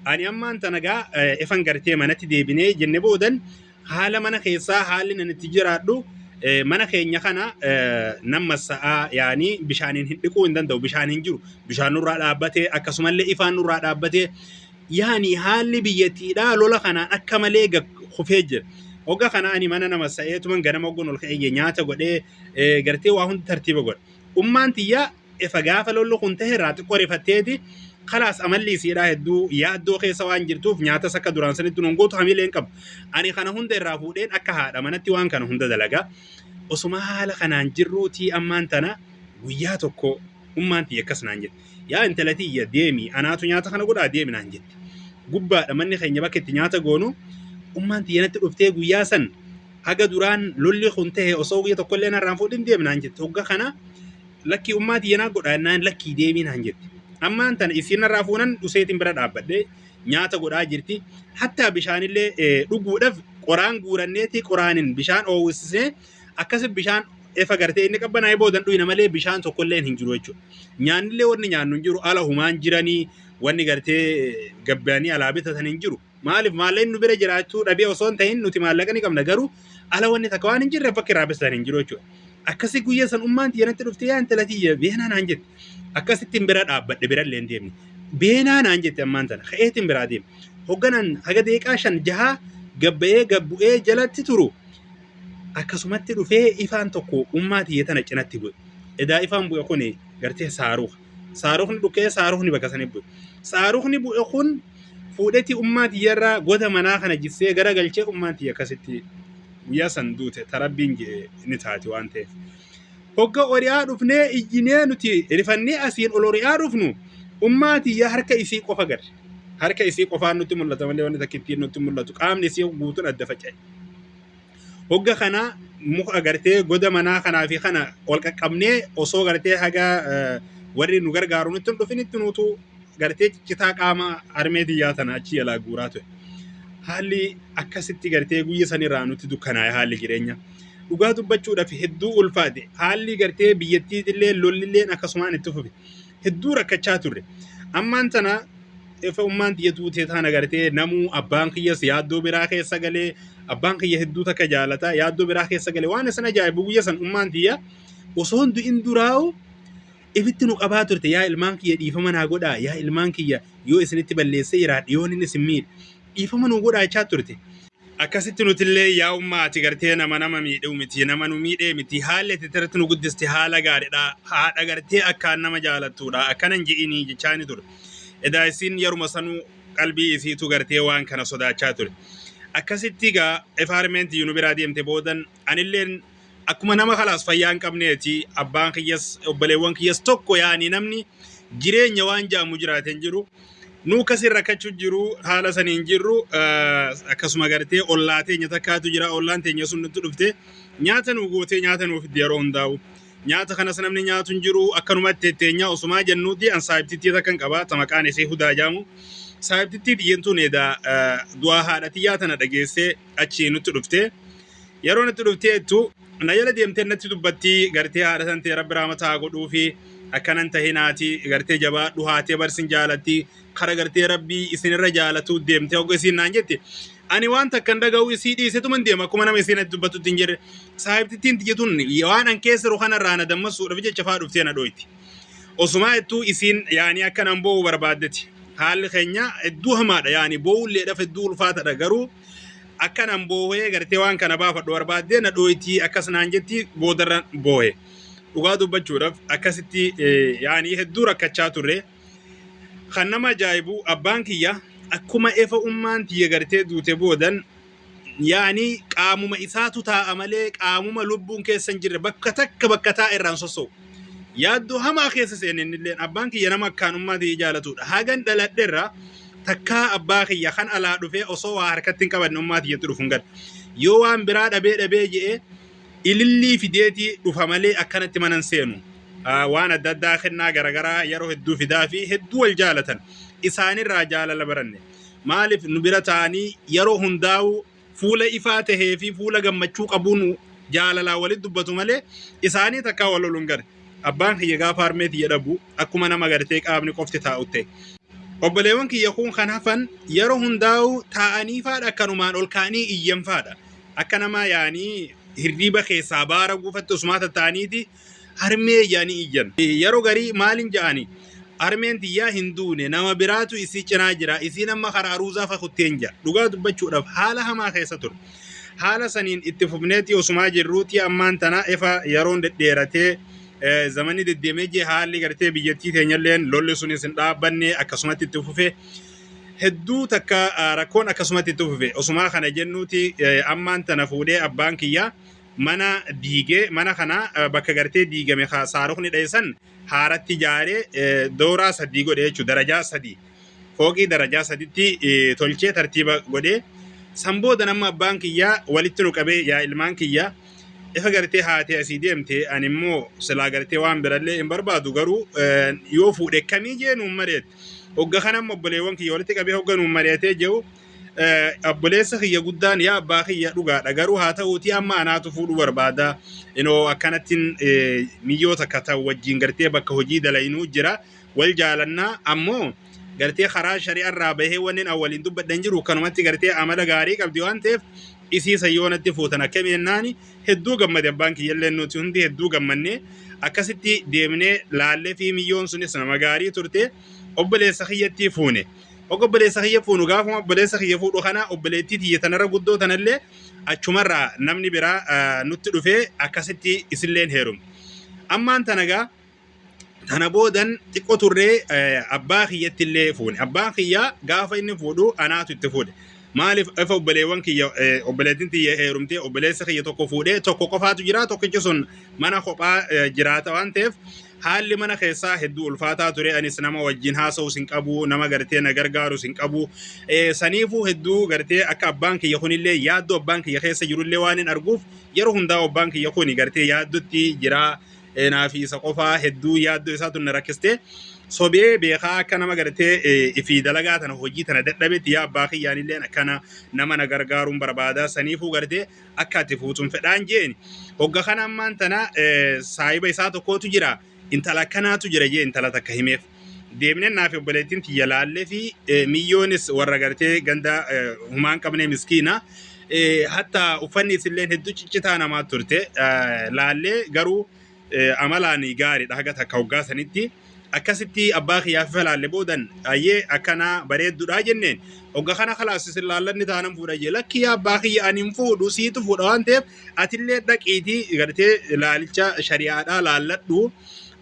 ani ammaan tana gaa ifan gartee manatti deebinee jenne boodan haala mana keessaa haalli nan itti jiraadhu mana keenya kana nan massa'aa yaanii bishaaniin hin dhiquu hin danda'u bishaan hin jiru bishaan nurraa dhaabbatee akkasumallee ifaan nurraa dhaabbatee yani haalli biyyattiidhaa lola kanaan akka malee gad kufee jira. Hogga kana ani mana nama sa'eetuman ganama hogguun ol ka'ee nyaata godhee eh, gartee waa hundi tartiiba godha. Ummaan tiyyaa efa gaafa lolli kun ta'e irraa xiqqoo rifatteeti kalaas amalli isiidhaa hedduu yaaddoo keessa waan jirtuuf nyaatas akka duraan sanitti nun gootu hamilee hin qabu. Ani kana hunda irraa fuudheen akka haadha manatti waan kana hunda dalagaa. Osuma haala kanaan jirruutii ammaan tana guyyaa tokko Ummaan tiyya akkas naan jette. Yaa intala tiyya deemi anaatu nyaata kana godhaa deemi naan jette. Gubbaadha manni keenya bakka itti nyaata goonu ummaan tiyya natti dhuftee guyyaa san haga duraan lolli kun ta'e osoo guyya tokkollee narraan fuudhin deemi naan jette. Hogga kana lakkii ummaa tiyya naa godhaa naan lakkii deemii naan jette. Ammaan tana isiin narraa fuunan useetiin bira dhaabbadhee nyaata godhaa jirti. Hattaa bishaanillee eh, dhuguudhaaf qoraan guuranneeti qoraanin bishaan oowwisisnee akkasi bishaan efa gartee inni qabbanaa'ee boodan dhuyna malee bishaan tokkolleen hin jiru jechuudha. Nyaannillee wanni nyaannu hin jiru ala humaan jiranii wanni gartee gabbaanii alaa bitatan hin jiru. Maaliif maalleen nu bira jiraachuu dhabee osoo hin ta'in nuti maallaqa ni qabna garuu ala wanni takka waan hin jirreef bakki irraa bisan hin jiru jechuudha. Akkasi guyyaa san ummaan tiyya natti dhuftee yaa intala tiyya beenaa naan jette. Akkasitti hin bira dhaabbadhe birallee hin deemne. Beenaa naan jette ammaan tana ka'eeti hin biraa deemne. Hogganaan haga deeqaa shan jahaa gabbayee gabbu'ee jalatti turu Akkasumatti dhufee ifaan tokko ummaa tiyya tana cinatti bu'e. Edaa ifaan bu'e kun gartee saaruka. Saarukni dhukkee saarukni bakka sanii bu'e. Saarukni bu'e kun fuudhetti ummaa tiyyarraa goda manaa kana jissee gara galchee ummaan tiyya akkasitti guyyaa san duute tarabbiin jedhe ni taati waan ta'eef. Hogga ori'aa dhufnee iyyinee nuti rifannee asiin ol ori'aa dhufnu ummaa tiyya harka isii qofa garre. Harka isii qofaan nutti mul'ata malee wanni takka ittiin nutti mul'atu qaamni isii guutuun adda faca'e. Hogga kana muka gartee goda manaa kanaa fi kana ol qaqqabnee osoo gartee haga eh, warri nu gargaaru nutti hin dhufinitti nuutu gartee ciccitaa qaama harmee tiyyaa tana achi jalaa guuraa ture. Haalli akkasitti gartee guyya sanirraa nutti dukkanaa'e haalli jireenya. Dhugaa dubbachuudhaaf hedduu ulfaate. Haalli gartee biyyattiitillee lollilleen akkasumaan itti fufe. hedduu rakkachaa turre. Ammaan tana efa ummaan tiyya duutee taan agartee namuu abbaan kiyyas yaaddoo biraa keessa galee abbaan kiyya hedduu takka jaalata yaaddoo biraa keessa galee waan isin ajaa'ibu guyya san ummaan tiyya osoo hundu in duraa'u ifitti nu qabaa turte yaa ilmaan kiyya dhiifama naa godhaa yaa ilmaan kiyya yoo isinitti balleessee jiraadhe yoon inni isin miidhe dhiifama nuu godhaa jechaa turte. Akkasitti nutillee yaa ummaa ati gartee nama nama miidhuu miti nama nu miidhee miti haalli ati irratti nu guddiste haala gaariidha haadha gartee akkaan nama jaalattuudha akkanan je'inii jechaani ture. Edaa isiin yeruma sanuu qalbii isiitu gartee waan kana sodaachaa ture. Akkasitti egaa FRMNT nu biraa deemte boodan anilleen akkuma nama kalaas fayyaa hin qabneeti abbaan kiyyas obboleewwan kiyyas tokko yaa'anii namni jireenya waan jaamu jiraate hin jiru. Nuu akkasiin rakkachuu jiru haala sanii hin jirru eh, akkasuma gartee ollaa teenya takkaatu jira ollaan teenya sun nutti dhufte nyaata nuu gootee nyaata nuuf itti yeroo hundaa'u. Nyaata kanas namni nyaatu hin jiru akkanumatti teenyaa osumaa jennuuti an saahibtittii takka hin qaba ta maqaan isee hudaa jaamu. Saahibtittii tiyyentuun edaa eh, du'aa haadha tiyyaa tana dhageessee achi nutti dhufte yeroo nutti dhuftee jettu na jala deemtee natti dubbatti gartee haadha san ta'e rabbi raamataa godhuu fi akkanan ta'e naati gartee jabaadhu haatee barsin jaalatti kara gartee rabbii isinirra jaalatu deemtee hogga isiin naan jette ani waan takkan dhaga'u isii dhiisetuman deema akkuma nama isiin natti dubbattutti hin jirre saahibtittiin tiyya tun waan an keessa jiru kanarraa na dammassuudhaaf jecha faa dhuftee na dhooyti. Osumaa hedduu isiin yaani akka nan boo'u barbaaddeti. Haalli keenya hedduu hamaadha yaani boo'ulleedhaaf hedduu ulfaatadha garuu akka nan boo'ee gartee waan kana baafadhu barbaaddee na dhooytii akkas naan jetti boodarra boo'e. Dhugaa dubbachuudhaaf akkasitti yaani hedduu rakkachaa turre. Kan nama ajaa'ibu abbaan kiyya akkuma efa ummaan tiyya gartee duute boodan Yaani qaamuma isaatu taa'a malee qaamuma lubbuun keessa hin jirre bakka takka bakka taa'e irraa hin sosso'u. Yaaddoo hamaa keessa seene innilleen abbaan kiyya nama akkaanummaa tiyya jaalatudha. Hagan dhaladhe irraa takkaa abbaa kiyya kan alaa dhufee osoo waa harkatti hin qabanne ummaa tiyyatti dhufu hin gaddu. Yoo waan biraa dhabee dhabee je'ee ilillii fideetii dhufa malee akkanatti mana hin seenu. Ah, Waan adda addaa kennaa garagaraa yeroo hedduu fidaa fi hedduu wal jaalatan. Isaanirraa jaalala baranne. Maaliif nu bira taa'anii yeroo hundaa'uu fuula ifaa tahee fi fuula gammachuu qabuun jaalalaa walit dubbatu malee isaanii takkaa wal loluun gare. Abbaan kiyya gaafa harmee tiyya dhabu akkuma nama gartee qaamni qofti taa'u ta'e. Obboleewwan kiyya kuun kan hafan yeroo hundaa'uu taa'anii faadha akkanumaan ol ka'anii iyyan faadha. Akka namaa yaanii hirriiba keessaa baara guufatti usumaa tatta'aniiti harmee jedhanii iyyan. Yeroo garii maalin ja'ani harmeen tiyyaa hin duune nama biraatu isii cinaa jira isiin amma kara aruuzaa fakutteen ja'a. Dhugaa dubbachuudhaaf haala hamaa keessa ture. Haala saniin itti fufneetii osumaa jirruutii ammaan tana efa yeroon dedheeratee eh, zamanni deddeemee jee haalli gartee biyyattii teenyalleen lolli sunis hin dhaabbanne akkasumatti itti fufe. Hedduu takka ah, rakkoon akkasumatti itti fufe. Osumaa kana jennuuti eh, ammaan tana fuudhee abbaan kiyyaa mana diige mana kana eh, bakka gartee diigame ka saarukni dha'e san haaratti ijaaree eh, dooraa sadii godhe jechuudha darajaa sadii fooqii darajaa saditti eh, tolchee tartiiba godhee san booda nama abbaan kiyyaa walitti nu qabee yaa ilmaan kiyyaa ifa gartee haatee asii deemte ani immoo silaa gartee waan birallee hin barbaadu garuu eh, yoo fuudhe kamii jee nuun mari'ate hogga kana immoo obboleewwan kiyya walitti qabee hogga nuun mari'atee jiru Eh, Obboleessa kiyya guddaan yaa abbaa kiyya dhugaadha garuu haa ta'uutii amma anaatu fuudhuu barbaada inoo akkanattiin eh, miyyoo takka ta'u wajjin gartee bakka hojii dalaynuu jira wal jaalannaa ammoo gartee karaa shari'arraa bahee wannin an waliin dubbadhan jiru kanumatti gartee amala gaarii qabdi waan ta'eef isii sayyoonatti fuutan akka meennaani hedduu gammade abbaan kiyyallee nuti hundi hedduu gammannee akkasitti deemnee laallee fi miyyoon sunis nama gaarii turte obboleessa kiyyattii fuune. Hoga obboleessa kiyya fuunu gaafuma obboleessa kiyya fuudhu kana obboleettii tiyya tanarra guddoo tanallee achumarraa namni biraa ah, nutti dhufee akkasitti isilleen heerume. Ammaan tanagaa tana boodan xiqqoo turree eh, abbaa kiyyatti illee fuune. Abbaan kiyya gaafa inni fuudhu anaatu itti fuudhe. Maaliif efa obboleewwan kiyya eh, obboleettiin tiyya heerumtee obboleessa kiyya tokko fuudhee tokko qofaatu jira tokkichi sun mana kophaa eh, jiraata waan ta'eef Haalli mana keessaa hedduu ulfaataa ture. Anis nama wajjin haasa'us hin qabu, nama gartee na gargaarus hin qabu. Eh, Saniifuu hedduu gartee akka abbaan kiyya kunillee yaaddoo abbaan kiyya keessa jirullee waan hin arguuf yeroo hundaa abbaan kiyya kuni gartee yaaddotti jira. Eh, Naafi isa qofaa hedduu yaaddoo isaatu na rakkiste. Sobee beekaa akka nama gartee eh, ifi dalagaa tana hojii tana dadhabetti yaa abbaa kiyyaanilleen akkana nama na gargaaruun barbaada. Saniifuu gartee akka ati fuutun fedhaan jeeni hogga kana ammaan tana saahiba isaa tokkootu jira intala akkanaatu jira jee intala takka himeef deemnee naaf obboleettiin tiyya laallee fi miyyoonis warra gartee ganda humaan qabnee miskiina hatta uffanni isilleen hedduu ciccitaa namaa turte laallee garuu eh, amalaan gaariidha haga takka hoggaa sanitti akkasitti abbaa kiyyaaf ifa laalle boodan ayyee akkanaa bareeddudha jenneen hogga kana kalaas isin laallanni taanan fuudha jee lakki yaa abbaa kiyya ani hin fuudhu siitu fuudha waan ta'eef atillee dhaqiitii gartee laalicha shari'aadhaa laalladhu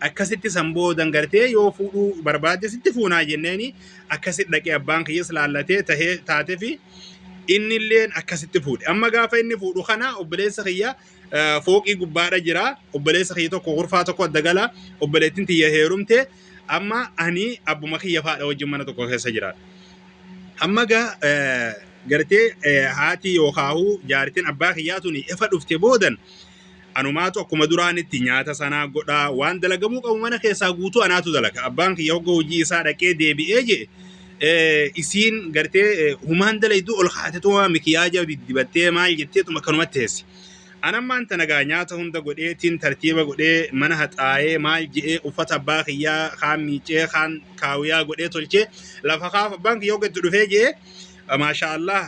akkasitti san boodan gartee yoo fuudhuu barbaadde sitti fuunaa jenneeni akkasitti dhaqee abbaan kiyyas laallatee tahee taatefi innilleen akkasitti fuudhe amma gaafa inni fuudhu kana obboleessa kiyya fooqii gubbaadha jira obboleessa kiyya tokko kurfaa tokko adda gala obboleettiin tiyya heerumte amma ani abbuma kiyya faadha wajjin mana tokko keessa jira amma ga gartee haati yookaahuu jaartiin abbaa kiyyaa tuni efa dhufte boodan anumaatu akkuma duraanitti nyaata sanaa godhaa waan dalagamuu qabu mana keessaa guutuu anaatu dalaga abbaan kiyya hogga hojii isaa dhaqee deebi'ee jee isiin gartee humaan dalayduu ol kaatetuma mikiyaajaa diddibattee maal jetteetuma akkanumatti teessi. Anammaan tanagaa nyaata hunda godheetiin tartiiba godhee mana haxaa'ee maal je'ee uffata abbaa kiyyaa kaan miicee kaan kaawiyaa godhee tolchee lafa kaaf abbaan kiyya hogga itti dhufee je'ee maashaa Allah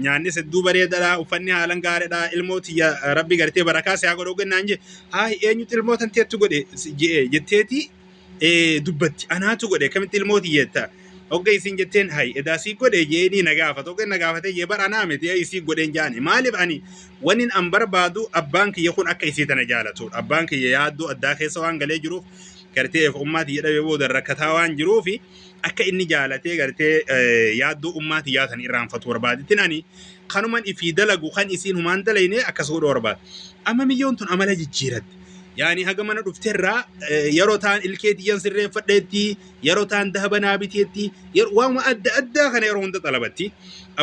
nyaannis hedduu bareedadha uffanni haalan gaariidha ilmoo tiyya rabbi gartee barakaa si haa godhu hogga naan jee haay eenyutu ilmoo tanteetti godhe je'ee jetteetii eh, dubbatti anaatu godhe akkamitti ilmoo tiyya jetta hogga isin jetteen hay edaa sii godhe jeedii na gaafata hogga na gaafate jee bara anaa miti ay sii godheen jaani maaliif ani wanin an barbaadu abbaan kiyya kun akka isii tana jaalatu abbaan kiyya yaaddoo addaa keessa waan galee jiruuf gartee eef ummaa tiyya dhabee booda rakkataa waan jiruufi akka inni jaalatee gartee eh, yaaddoo ummaa tiyyaa tan irraanfatu barbaadittin ani kanuman ifii dalagu kan isiin humaan dalayne akkas godhu barbaada amma miyyoon tun amala jijjiiratte yaani haga mana dhufterraa eh, yeroo taan ilkee tiyyan sirreeffadheetti yeroo taan dahaba naa biteetti yer- waanuma adda addaa kana yeroo hunda xalabatti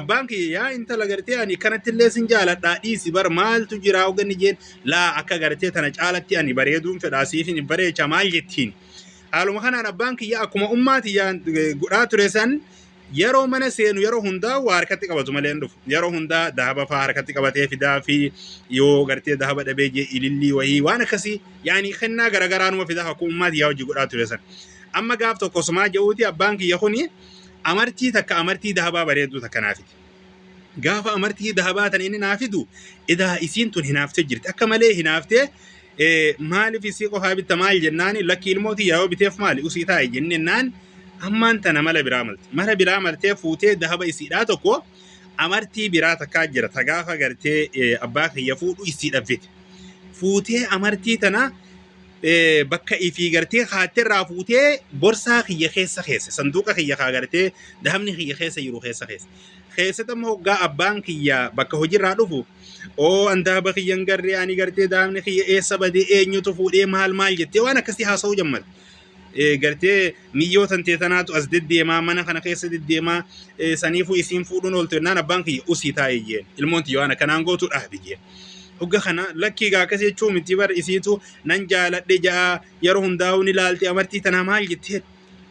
abbaan kiyya yaa intala gartee ani kanatti illee sin jaaladhaa dhiisi bar maaltu jiraa hoganni jeen laa akka gartee tana caalatti ani bareeduun fedhaa siifin hin bareecha maal jettiin haaluma kanaan abbaan kiyya akkuma ummaa tiyyaan eh, godhaa ture san Yeroo mana seenu yeroo hundaa waa harkatti qabatu malee hin dhufu. Yeroo hundaa dahaba faa harkatti qabatee fidaa fi yoo gartee dahaba dhabee jee ilillii wahii waan akkasii yaani kennaa garagaraa numa fidaa akkuma ummaati yaa hojii godhaa ture san. Amma gaaf tokko sumaa ja'uuti abbaan kiyya kuni amartii takka amartii dahabaa bareedduu takka naa fide. Gaafa amartii dahabaa tan inni naa fidu edaa isiin tun hinaaftee jirti. Akka malee hinaaftee eh, maaliif isii qofaa bitta maal jennaani lakki ilmoo tiyyaa yoo biteef maali usii taa'i jennennaan ammaan tana mala biraa malte. Mala biraa maltee fuutee dahaba isiidhaa tokko amartii biraa takkaa jira ta gaafa gartee eh, abbaa kiyya fuudhu isiidhaaf fite. Fuutee amartii tana bakka ifii gartee kaatte irraa fuutee borsaa kiyya keessa keessa sanduuqa kiyya kaa gartee dahabni kiyya keessa jiru keessa keessa. Keessatti amma hoggaa abbaan kiyya bakka hojiirraa dhufu oo an dahaba kiyya hin garree ani gartee dahabni kiyya eessa badee eenyutu fuudhee maal maal jettee waan akkasii haasa'uu jammata. Eh, gartee miyyoo tantee tanaatu as deddeemaa mana kana keessa deddeemaa eh, saniifuu isiin fuudhuun ooltu jennaan abbaan kiyya usii taa'ee jeen ilmoon tiyya waan akkanaan gootu dhaabi jeen. Hogga kana lakkii gaa akkas jechuu miti bar isiitu nan jaaladhe ja'a yeroo hundaa'uu ni laalti amartii tanaa maal jettee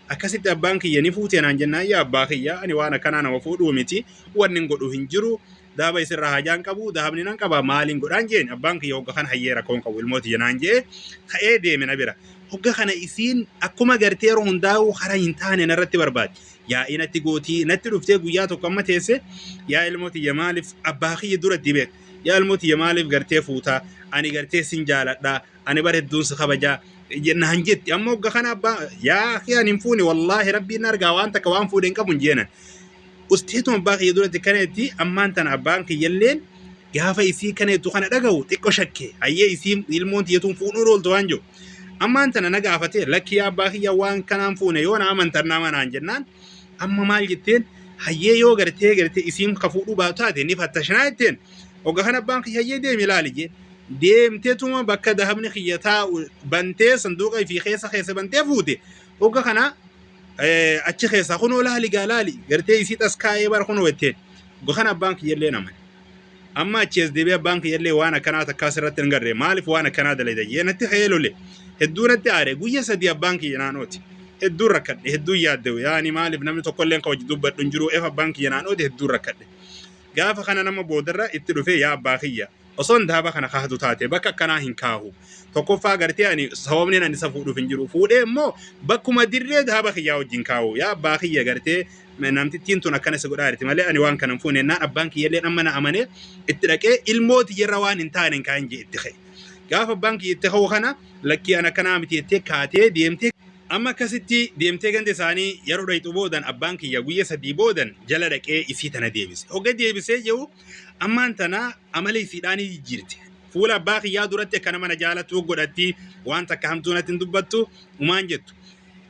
akkasitti abbaan kiyya ni fuutee naan jennaan yaa abbaa kiyya ani waan akkanaa nama fuudhuu miti wanni hin godhu hin jiru daaba isirraa hajaan qabu dahabni nan qaba maaliin godhaan jeen abbaan kiyya hogga kana hayyee rakkoon qabu ilmooti jenaan jee ka'ee deeme na bira hogga kana isiin akkuma gartee yeroo hundaa'uu hara hin taane narratti barbaade yaa'ii natti gootii natti dhuftee guyyaa tokko amma teesse yaa ilmoo tiyya maaliif abbaa kiyya duratti beek yaa ilmoo tiyya maaliif gartee fuutaa ani gartee sin jaaladhaa ani bar hedduun si kabajaa naan jetti amma hogga kana abbaa yaa kiyaan hin fuune wallaahi rabbiin argaa waan takka waan fuudhe hin qabu hin jeenan usteetuma abbaa kiyya duratti kana jetti ammaan tana abbaan kiyyalleen gaafa isii kana jettu kana dhagahu xiqqo shakke hayyee isii ilmoon tiyyatuun fuudhuun ooltu waan jiru Ammaan tana na gaafatee lakki yaa abbaa kiyya waan kanaan fuune yoo na amantan na amanaan jennaan amma maal jetteen hayyee yoo gartee gartee isiin ka fuudhuu baatu taate ni fattashinaa jetteen hogga kan abbaan kiyya hayyee deemi ilaali jee deemteetuma bakka dahabni kiyya taa'u bantee sanduuqa ifii keessa keessa bantee fuute hogga kana eh, achi keessaa kunoo laali gaa laali gartee isii taskaa'ee bara kunoo jetteen hogga kan abbaan kiyya illee nama Amma achi as deebi'ee abbaan kiyyallee waan akkanaa takkaa sirratti hin garre maaliif waan akkanaa dalayda jee natti ka'ee lole. Hedduu natti aare guyya sadii abbaan kiyya naan ooti. Hedduun rakkadhe hedduun yaaddewe yaani maaliif namni tokkolleen ka wajji dubbadhu hin jiru ef abbaan kiyya naan ooti hedduun rakkadhe. Gaafa kana nama boodarra itti dhufee yaa abbaa kiyya osoon daaba kana kaahatu taate bakka akkanaa hin kaahu. Tokkoffaa gartee ani sababni ani isa fuudhuuf hin jiru. Fuudhee immoo bakkuma dirree daaba kiyyaa wajjin kaahu. Yaa abbaa kiyya gartee namtittiin tun akkana si godhaa jirti malee ani waan kana hin fuune jennaan abbaan kiyyallee amma na amanee itti dhaqee ilmoo tiyyarra waan hin taane hin kaa'in jee itti ka'e. Gaafa abbaan kiyya itti ka'u kana lakkii an akkanaa miti jettee kaatee deemtee amma akkasitti deemtee ganda isaanii yeroo dhayxu boodan abbaan kiyya guyya sadii boodan jala dhaqee isii tana deebise. Hogga deebisee jiru ammaan tana amala isiidhaan jijjiirte. Fuula abbaa kiyyaa duratti akka nama na jaalatu godhatti waan takka hamtuu natti hin dubbattu umaan jettu.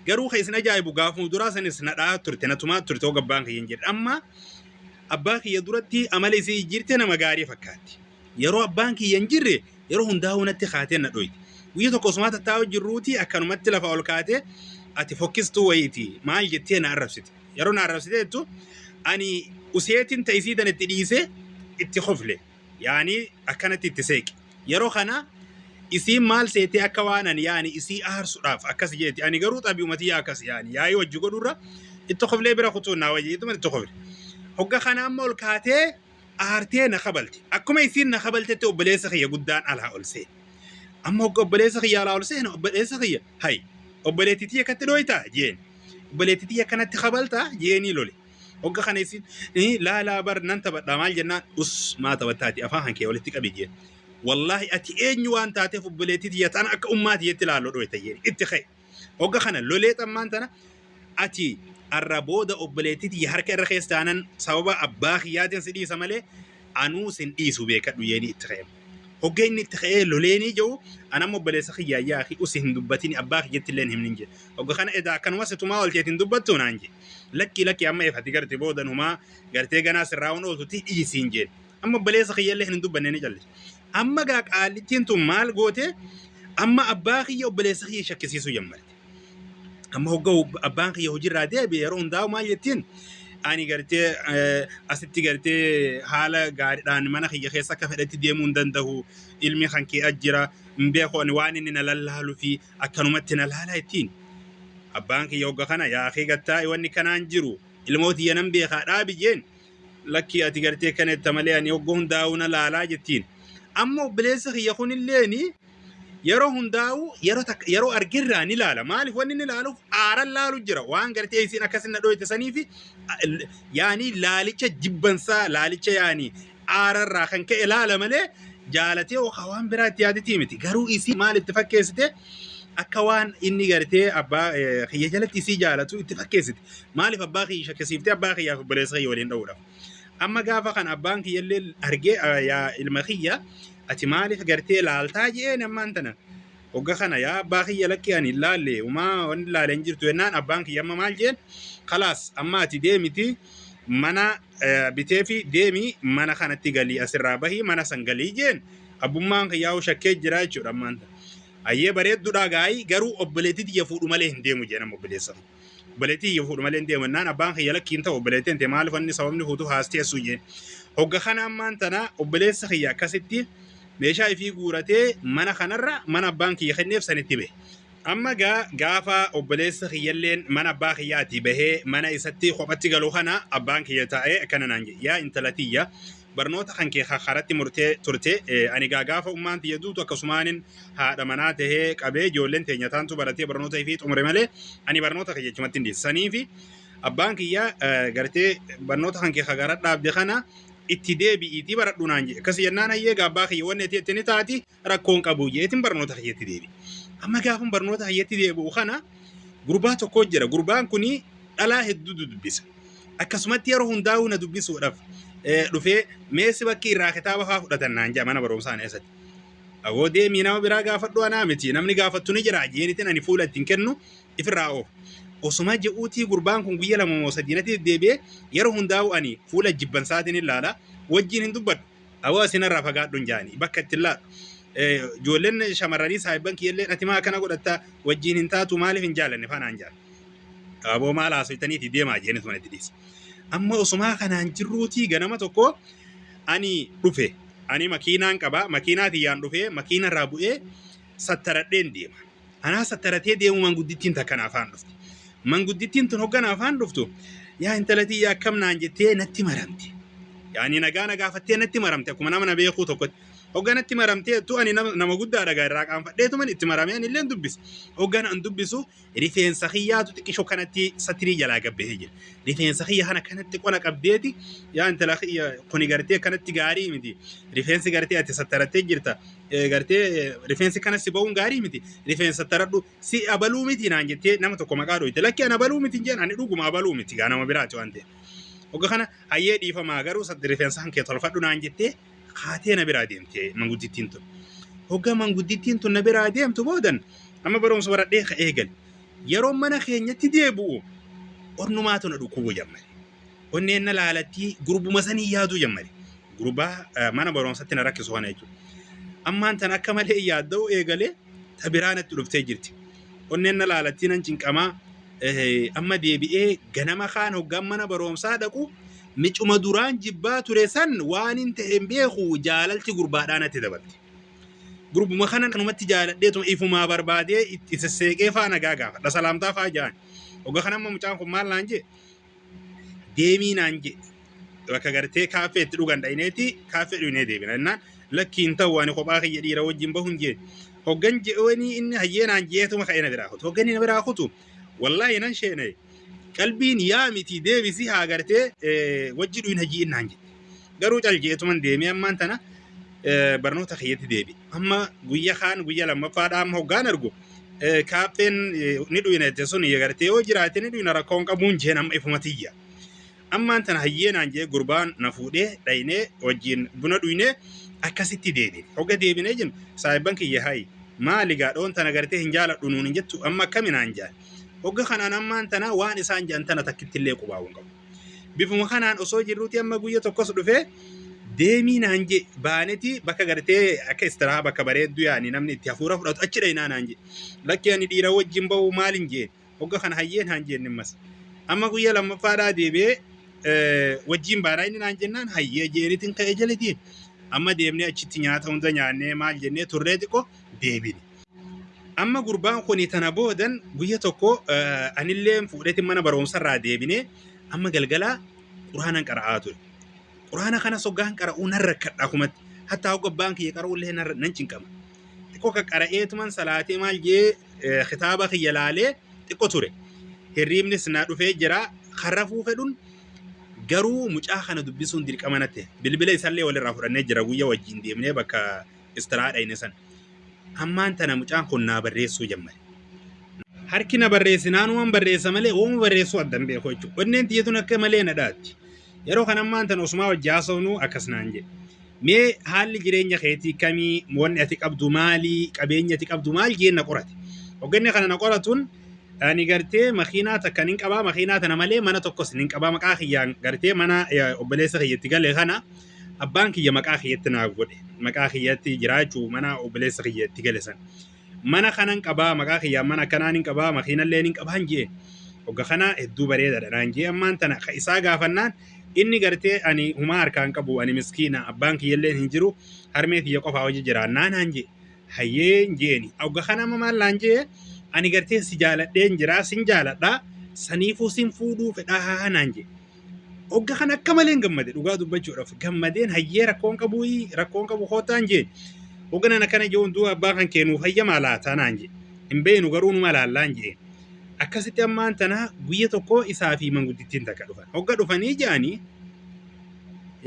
Garuu kan isin ajaa'ibu gaafuma duraa sanis na dha'aa turte na tumaa turte hoga abbaan kiyya hin jirre. Amma abbaa kiyya duratti amala isii jijjiirte nama gaarii fakkaatti. Yeroo abbaan kiyya hin jirre yeroo hundaa'uu natti kaatee na dhoyti. Guyya tokko osumaa tattaa'uu jirruuti akkanumatti lafa ol kaatee ati fokkistuu wayiiti maal jettee na arrabsite. Yeroo na arrabsite jettu ani useetiin ta'isii tan itti dhiisee itti kofle. Yaani akkanatti itti seeqe. Yeroo kana isiin maal seetee akka waan ani yaani isii aarsudhaaf akkas jeeti ani garuu xabi'uma tiyya akkas yaani yaa'ii wajji godhurra itti koflee bira kutuun naa wayya jetuma itti kofle. Hogga kana amma ol kaatee aartee na kabalti. Akkuma isiin na kabaltetti obboleessa kiyya guddaan alaa ol seene. Amma hogga obboleessa kiyya alaa ol seene obboleessa kiyya hay obboleetti tiyya akkatti dhooytaa jeeni. Obboleetti tiyya akkanatti kabaltaa jeenii lole. Hogga kana isin laalaa bar nan taphadhaa maal jennaan us maa taphattaati afaan kan kee walitti qabi jeen. Wallaahi ati eenyu waan taateef obboleettii tiyya tana akka ummaa tiyyetti laallo dhooyta jeen itti ka'e. Hogga kana lolee xammaan tana ati arra booda obboleettii tiyya harka irra keessa taanan sababa abbaa kiyyaatiin si dhiisa malee anuu sin dhiisu beekadhu jeeni itti ka'e. Hoggee inni itti ka'ee loleenii jedhu an amma obboleessa kiyyaa yaa akhi usi hin dubbatini abbaa kiyyatti illee hin himnin jedhe. Hogga kana edaa akkanuma situmaa olteeti hin dubbattu naan jedhe. Lakkii lakkii amma efati garte booda numaa gartee ganaa sirraa wan ooltu tii dhiisiin jedhe. Amma obboleessa kiyya illee kan hin dubbanne ni callise. Amma gaa qaallittiin tun maal goote amma abbaa kiyya obboleessa kiyya shakkisiisuu jammarte. amma hogga abbaan kiyya hojiirraa deebi'e yeroo hundaa'u maal jettiin ani gartee eh, asitti gartee haala gaariidhaan mana kiyya keessa akka fedhetti deemuu hin danda'u ilmi kan kee ajjira hin beeku ani waan inni na lallaalu fi akkanumatti na laala jettiin abbaan kiyya hogga kana yaa kee gattaa'i wanni kanaan jiru ilmoo tiyya nan beekaa dhaabi jeen lakkii ati gartee kan etta malee ani hoggoo hundaa'uu na laalaa jettiin. Amma obboleessa kiyya kunilleen yeroo hundaa'uu yeroo takka yeroo argirraa ni laala. Maaliif wanni inni laaluuf aaran laalu jira. Waan gartee isiin akkasin na dhooyte saniifi yaanii laalicha jibbansaa laalicha yaanii aararraa kan ka'e laala malee jaalatee okaa waan biraa itti yaaditii miti. Garuu isii maal itti fakkeessite akka waan inni gartee abbaa kiyya jalatti isii jaalatu itti fakkeessite. Maaliif abbaa kiyya shakkisiiftee abbaa kiyyaaf obboleessa kiyya waliin dha'uudhaaf. Amma gaafa kan abbaan kiyya illee argee "Ah, yaa ilma kiyya ati maaliif gartee laaltaa je'een ammaan tana. Hogga kana yaa abbaa kiyya lakki ani hin laalle umaa wanni laale hin jirtu jennaan abbaan kiyya amma maal jeen kalaas amma ati deemiti mana eh, bitee fi deemi mana kanatti galii asirraa bahii mana san galii jeen abbummaan kiyyaa shakkee jira jechuudha ammaan tana. Ayyee bareeddudha gaa'ii garuu obboleetti tiyya fuudhu malee hin deemu jeen amma obboleessa. kiyya. Obboleettii yoo fuudhu malee hin deemu jennaan abbaan kiyya lakkii hin ta'u obboleettiin tee maaliif wanni sababni fuutu haas teessuu jeen. Hogga kana ammaan tana obboleessa kiyya akkasitti meeshaa ifii guuratee mana kanarra mana abbaan kiyya kenneef sanitti bahe. Amma gaa gaafa obboleessa kiyyalleen mana abbaa kiyyaatii bahee mana isatti kophatti galu kana abbaan kiyya taa'ee akkana naan jedhe yaa intala tiyya barnoota kan kee ka karatti murtee turte eh, ani gaa gaafa ummaan tiyya duutu akkasumaanin haadha manaa tahee qabee ijoolleen teenya taantu baratee barnoota ifii xumure malee ani barnoota kiyya achumatti hin dhiise saniifi abbaan kiyya eh, gartee barnoota kan kee ka gara dhaabde kana itti deebi'iitii baradhu naan jedhe akkasi jennaan hayyee gaa abbaa kiyya wanni ati itti ni taati rakkoon qabu jeetin barnoota kiyyatti deebi. Amma gaafan barnoota kiyyatti deebi'u kana gurbaa tokko jira. Gurbaan kun dhalaa hedduu dubbisa. Akkasumatti yeroo hundaa'uu na dubbisuudhaaf eh, dhufee meessi bakkii irraa kitaaba fa'aa fudhatan naan jedha mana barumsaa keessatti. Awoo deemii nama biraa gaafadhu anaa miti namni gaafattu ni jira jeenitin ani fuula ittiin kennu ifirraa oof. Osuma je'uutii gurbaan kun guyya lama moo sadii natti deddeebi'ee yeroo hundaa'u ani fuula jibbansaatiin ilaala wajjin hin dubbadhu. Awoo isinirraa fagaadhun jaani bakka itti laadhu. Ijoolleen shamarranii saahibban kiyyallee dhatimaa akkana godhatta wajjiin hin taatu maaliif hin jaalanne faanaan jaan. Aboo maal haasoytaniiti deemaa jeeni tuman itti dhiise. Amma osumaa kanaan jirruutii ganama tokko ani dhufe ani makiinaan qaba makiinaa kiyyaan dhufe makiinarraa bu'ee sattaradheen deema. Anaa sattaratee deemuu manguddittiin takka na afaan dhufte. Manguddittiin tun hogga na afaan dhuftu yaa intala tiyya akkam naan jettee natti maramte. Yaani nagaa na gaafattee natti maramte akkuma nama na beekuu tokkotti. Hogga natti maramtee tu ani nama, nama guddaa dhagaa irraa qaanfadheetuman itti maramee ani illee dubbise. Hogga an dubbisu rifeensa kiyyaatu xiqqisho kanatti satirii jalaa gabbahee jira. Rifeensa kiyya kana kanatti qona qabdeeti yaa intala kiyya kuni gartee kanatti gaarii miti. Rifeensi gartee ati sattarattee jirta. Eh, gartee eh, rifeensi kana si ba'uun gaarii miti rifeensa taradhu si abaluu miti naan jettee nama tokko maqaa dhooyte lakki an abaluu miti hin jeen ani dhuguma abaluu miti gaa nama biraati waan ta'e ogga kana hayyee dhiifamaa garuu sa- rifeensa kan kee tolfadhu naan jettee kaatee na biraa deemte manguddittiin tun ogga manguddittiin tun na biraa deemtu boodan amma barumsa baradhee ka eegal yeroo mana keenyatti deebi'u onnumaatu na dhukkubu jammale Onneen na laalatti gurbuma sanii yaaduu jammare. Gurbaa eh, mana barumsatti na rakkisu kana jechuudha. Ammaan tan akka malee yaadda'uu eegalee ta biraa natti dhuftee jirti. Onneen na laalattii nan cinqamaa eh, amma deebi'ee ganama kaan hoggaan mana barumsaa dhaqu micuma duraan jibbaa ture san waan hin ta'e hin beeku jaalalti gurbaadhaa natti dabalte. Gurbuma kanan kanumatti jaaladheetuma ifumaa barbaadee itti sesseeqee faa nagaa gaafadha salaamtaa faa ja'an. Hogga kanamma mucaan kun maal naan jee deemii naan jedhe bakka gartee kaaffee itti dhugan dhayineeti kaaffee dhuynee deebina jennaan lakkii hin ta'u ani kophaa kiyya dhiira wajjin bahu hin jeen hoggan je'oonii inni hayyee naan jeetuma ka'ee na biraa kutu hoggan inni na biraa kutu wallaahi nan sheenaye qalbiin yaa miti deebisi haa gartee wajji dhuyna ji'in naan jedhe Garuu cal jeetuman deemee ammaan tana barnoota kiyyatti deebi. Amma guyya kaan guyya lammaffaadha amma hoggaan argu kaaffeen ni dhuyina jette sun gartee yoo jiraate ni dhuyina rakkoon qabuun jeen amma ifuma tiyya. Ammaan tana hayyeenaan jee gurbaan na fuudhee dhaynee wajjin buna dhuynee akkasitti deebi. Hogga deebinee jennu saahibban kiyya hayi maali gaadhoon tana gartee hin jaaladhu nuun hin jettu amma akkaminaan jaan. Hogga kanaan ammaan tana waan isaan jaan tana takkittillee qubaa'uu hin qabu. Bifuma kanaan osoo jirruuti amma guyya tokkos dhufee deemii naan jee baaneti bakka gartee akka istiraa bakka bareedduu yaani namni itti hafuura fudhatu achi dhaynaa naan jee lakkee ani dhiira wajjin ba'uu maalin jee hogga kana hayyee naan jeen nimmas amma guyya lammaffaadhaa deebi'ee eh, wajjin baanaa inni naan jennaan hayyee jeenitin ka'e jelitiin amma deemnee achitti nyaata hunda nyaannee maal jennee turree xiqqoo deebine. Amma gurbaan kun tana boodan guyya tokko anillee fuudheetiin mana barumsarraa deebinee amma galgalaa quraanan qara'aa ture. Quraana kana soggaan qara'uu nan rakkadha kumatti. Hattaa hogga abbaan kiyya qara'ullee nan cinqama. Xiqqoo kan qara'eetuman salaatee maal jee kitaaba kiyya laalee xiqqoo ture. Hirriibnis na dhufee jira. Kan rafuu fedhun garuu mucaa kana dubbisuun dirqama natti. Bilbila isallee walirraa fudhannee jira guyya wajjin deemnee bakka istiraadha inni san. Ammaan tana mucaan kun naa barreessuu jammare. Harki na barreessi naanumaan barreessa malee oomu barreessuu adda hin beeku jechuudha. Onneen tiyya tun akka malee na dhaatti. Yeroo kan ammaan tana osumaa wajji haasofnu akkas naan jedhe. Mee haalli jireenya keetii kamii wanni ati qabdu maalii qabeenya ati qabdu maal jeen na qorate. Hogganni kana na qoratuun ani gartee makiinaa takka nin qabaa makiinaa tana malee mana tokkos nin qabaa maqaa kiyyaan gartee mana obboleessa kiyya itti gale kana. abbaan kiyya maqaa kiyyatti naaf godhe maqaa kiyyatti jiraachuu mana obboleessa kiyya itti gale san mana kanan qabaa maqaa kiyyaan mana akkanaa nin qabaa makiinallee nin qabaan jee hogga kana hedduu bareedaadha naan jee ammaan tana ka isaa gaafannaan inni gartee ani humaa harkaan qabu ani miskiina abbaan kiyyallee hin jiru harmee kiyya qofaa hojii jiraannaa naan jee hayyeen jeeni hogga kana amma maal naan jee ani gartee si jaaladheen jiraa sin jaaladhaa saniifuu sin fuudhuu fedhaa naan jee Ogga kan akka maleen gammade dhugaa dubbachuudhaaf gammadeen hayyee rakkoon qabu rakkoon qabu kootaan jeen ogga nana kana jechuun du'a abbaa kan keenuuf hayyamaa laataa naan jee hin beenu garuu numa laallaan jeen akkasitti ammaan tana guyya tokko isaa fi manguddittiin takka dhufan ogga dhufanii jaanii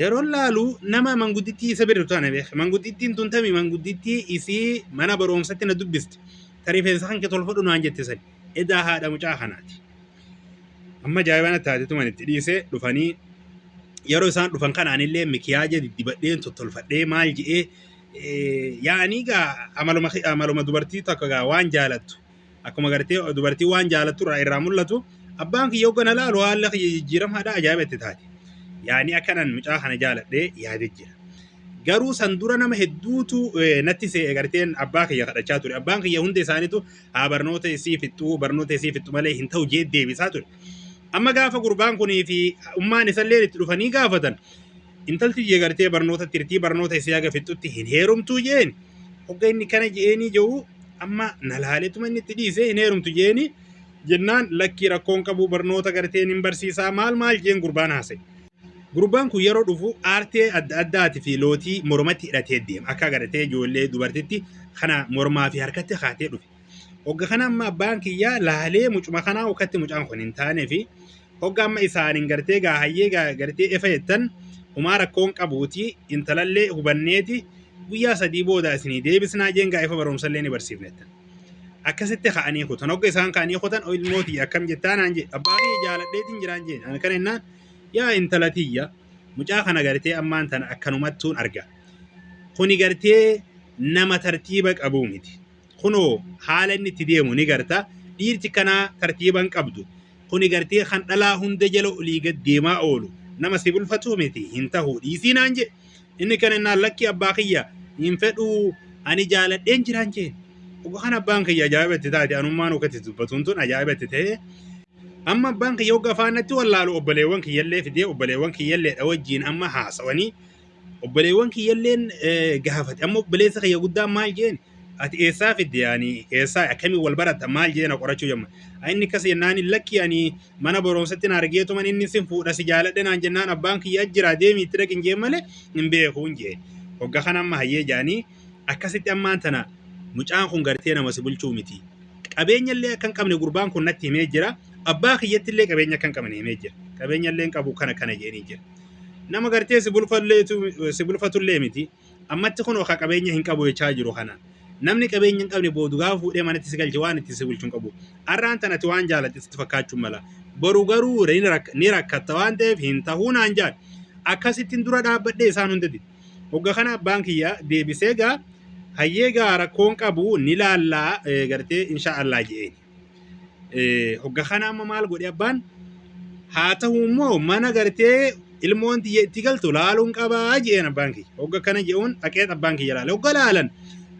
yeroo laalu nama manguddittii isa bira taana beeka manguddittiin tun tami manguddittii isii mana barumsatti na dubbiste ta rifeensa kan kee tolfadhu naan jette sani edaa haadha mucaa kanaati. amma jaayibana taate tuman itti dhiise dhufanii yeroo isaan dhufan kanaanillee mikiyaaja diddibadheen tottolfadhee maal je'ee yaa'anii gaa amaluma amaluma dubartii takka gaa waan jaalattu akkuma gartee dubartii waan jaalattu irraa irraa mul'atu abbaan kiyya hoggana laalu haala kiyya jijjiiramaadha ajaa'iba itti taate yaa'anii akkanan mucaa kana jaaladhee yaadee jira. garuu san dura nama hedduutu eh, natti se'e garteen abbaa kiyya kadhachaa ture abbaan kiyya hunda isaaniitu haa barnoota isii fixxuu barnoota isii fixxu malee hin ta'u jee deebisaa ture. Amma gaafa gurbaan kunii fi ummaan isallee itti dhufanii gaafatan intalti jee gartee barnoota tirtii barnoota isii haga fixxutti hin heerumtuu jeen hogga inni kana je'eenii je'u amma na laaleetuma inni itti dhiisee hin heerumtu jeenii jennaan lakkii rakkoon qabuu barnoota garteen hin barsiisaa maal maal jeen gurbaan haasa'e. Gurbaan kun yeroo dhufu aartee adda addaati fi lootii mormatti hidhatee deema. Akka agartee ijoollee dubartitti kana mormaa fi harkatti kaatee dhufe. Hogga kana amma abbaan kiyyaa laalee mucuma kanaa ukkatti mucaan kun hin taanee fi hogga amma isaan hin gartee gaa hayyee gaa gartee efa jettan humaa rakkoon qabuuti intalallee hubanneeti guyyaa sadii booda isinii deebisnaa jeen gaa efa barumsallee ni barsiifnettan. Akkasitti ka'anii kutan hogga isaan ka'anii kutan ilmooti akkam jettaa naan jee abbaa kiyya jaaladheetiin jiraan jeen ani kana jennaan Yaa intala tiyya mucaa kana gartee ammaan tana akkanumattuun arga. Kuni gartee nama tartiiba qabuu miti. Kunoo haala inni itti deemu ni garta. Dhiirti kanaa tartiiba hin qabdu. Kuni gartee kan dhalaa hunda jala olii gad deemaa oolu. Nama si bulfatuu miti hin tahuu dhiisii naan jee. Inni kan innaan lakkii abbaa kiyya hin fedhuu ani jaaladheen jiraan jeen. Dhuga kan abbaan kiyya ajaa'iba itti taate anummaan akka itti dubbatuun tun ajaa'iba itti ta'ee. Amma abbaan kiyya hogga afaan natti wallaalu obboleewwan kiyyallee fidee obboleewwan kiyyalleedha wajjin amma haasawanii obboleewwan kiyyalleen eh, gaafate amma obboleessa kiyya guddaan maal jeen ati eessaa fidde yaani eessaa akkamiin wal baratta maal jeena qorachuu jamma Ay, inni akkas jennaan hin lakki ani mana barumsatti na argeetuman inni sin fuudha si jaaladhe naan jennaan abbaan kiyya jira deemii itti dhaqin jeen malee hin beekuun jeen hogga kana amma hayyee jaanii Akkasitti ammaan tana mucaan kun gartee nama si bulchuu miti. Qabeenyallee akka hin qabne gurbaan kun natti himee jira. Abbaa kiyyattillee qabeenya akka hin qabne himee jira. Qabeenyallee hin qabu kana kana jedhanii jira. Nama gartee si bulfalleetu- si bulfatullee miti. Ammatti kun oka qabeenya hin qabu jechaa jiru kana. Namni qabeenya hin qabne boodu gaafa fuudhee manatti si galche waan ittiin si bulchu hin qabu. Arraan tana ati waan jaalatte sitti fakkaachuu mala. Boru garuu ni rak- ni rakkatta waan ta'eef hin tahuu naan jedhan. Akkasittiin dura dhaabbadhee isaan hundatti. Hogga kana abbaan kiyya deebisee gaa hayyee gaa rakkoon qabu ni laallaa eh, gartee insha Allah je'een. Eh, Hogga kana amma maal godhe abbaan haa ta'u immoo mana gartee ilmoon tiyya itti galtu laaluun qabaa je'een abbaan kiyya. Hogga kana je'uun dhaqee abbaan kiyya laale. Hogga laalan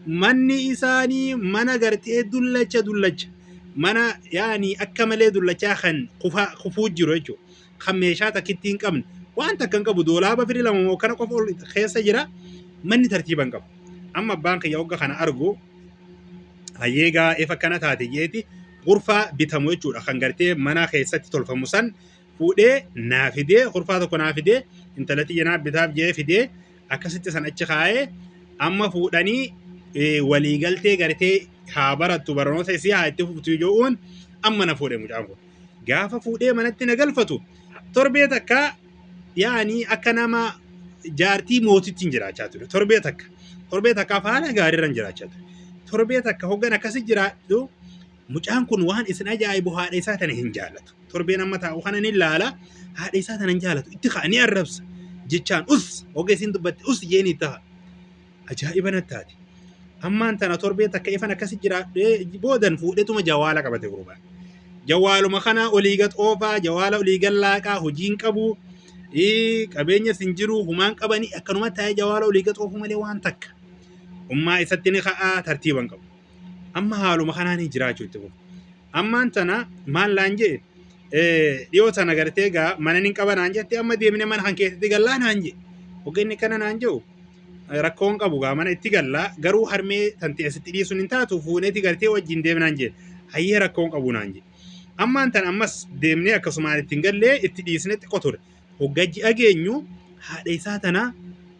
manni isaanii mana gartee dullacha dullacha mana yaani akka malee dullachaa kan kufaa kufuu jiru jechuudha. kan meeshaa takkitti hin qabne waan takka hin qabu doolaaba firi lama moo kana qofa ol keessa jira manni tartiiba hin qabu. Amma abbaan kiyya hogga kana argu hayyee gaa efa kana taate jeeti gurfaa bitamu jechuudha kan gartee mana keessatti tolfamu san fuudhee naa fidee gurfaa tokko naa fidee intala tiyya naa bitaaf jee fidee akkasitti san achi kaa'ee amma fuudhanii eh, waliigaltee gartee haa barattu barnoota isii haa itti fuftu jechuun amma na fuudhe mucaan kun. gaafa fuudhee manatti na galfatu torbee takka yaani akka nama jaartii mootittiin jiraachaa ture torbee takka torbee takkaaf haala gaariirran jiraachaa ture torbee takka hoggan akkasi jiraadhu mucaan kun waan isin ajaa'ibu haadha isaa tana hin jaalatu torbeen amma taa'u kana ni laala haadha isaa tana hin jaalatu itti ka'a ni arrabsa jechaan us hoga isin dubbatti us jeeni ta'a Ajaa'iba natti taate. Ammaan tana torbee takka ifan akkasi jiraadhee boodan fuudhetuma jawaala qabate gurbaan. Jawaaluma kana olii gad oofaa, jawaala olii gad laaqaa, hojiin qabu, ii, qabeenyas hin jiru, humaan qabanii akkanuma taa'ee jawaala olii gad oofuu malee waan takka. Ummaa isatti ni ka'aa tartiiban qabu. Amma haaluma kanaan jiraachuu itti fufu. Ammaan tana maal naan jee dhiyoo tana gartee gaa mana nin qaba naan jette amma deemne mana kan keessatti gallaa naan jee. Ogeessi kana naan jiru rakkoon qabu gaa mana itti gallaa garuu harmee tanti asitti dhiisuun hin taatu fuuneeti gartee wajjin deemnaan jee. Hayyee rakkoon qabu naan jee. Ammaan tana ammas deemnee akkasumaan ittiin gallee itti dhiisne xiqqoo ture. Hogga ji'a geenyu haadha isaa tana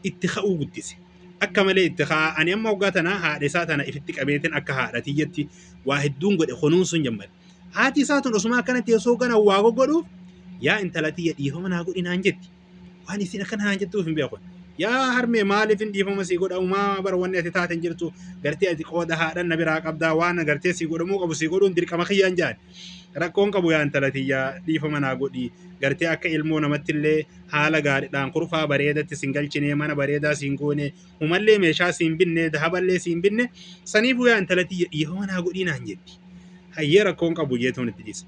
itti ka'uu guddise. Akka malee itti ka'a. Ani amma hoggaa tana haadha isaa tana ifitti qabeetiin akka haadha tiyyatti waa hedduun godhe kunuunsuun jammade. Haati isaa tun osuma akkana teessoo gana waa goggodhuuf yaa intala tiyya dhiifama naa godhi naan jetti. Waan isin akkana naan jettuuf hin beeku. Yaa harmee maaliif hin dhiifama sii godha umaa bara wanni ati taate hin jirtu gartee ati qooda haadhan na biraa qabdaa waan gartee sii godhamuu qabu sii godhuun dirqama kiyyaan jedhan. Rakkoon qabu yaa intala tiyya dhiifama naa godhi gartee akka ilmoo namatti illee haala gaariidhaan kurfaa bareedatti sin galchinee mana bareedaa siin goone humallee meeshaa siin binne dahaballee siin binne saniifuu yaa intala tiyya dhiifama naa godhii naan jetti. Hayyee rakkoon qabu jeetuun itti dhise.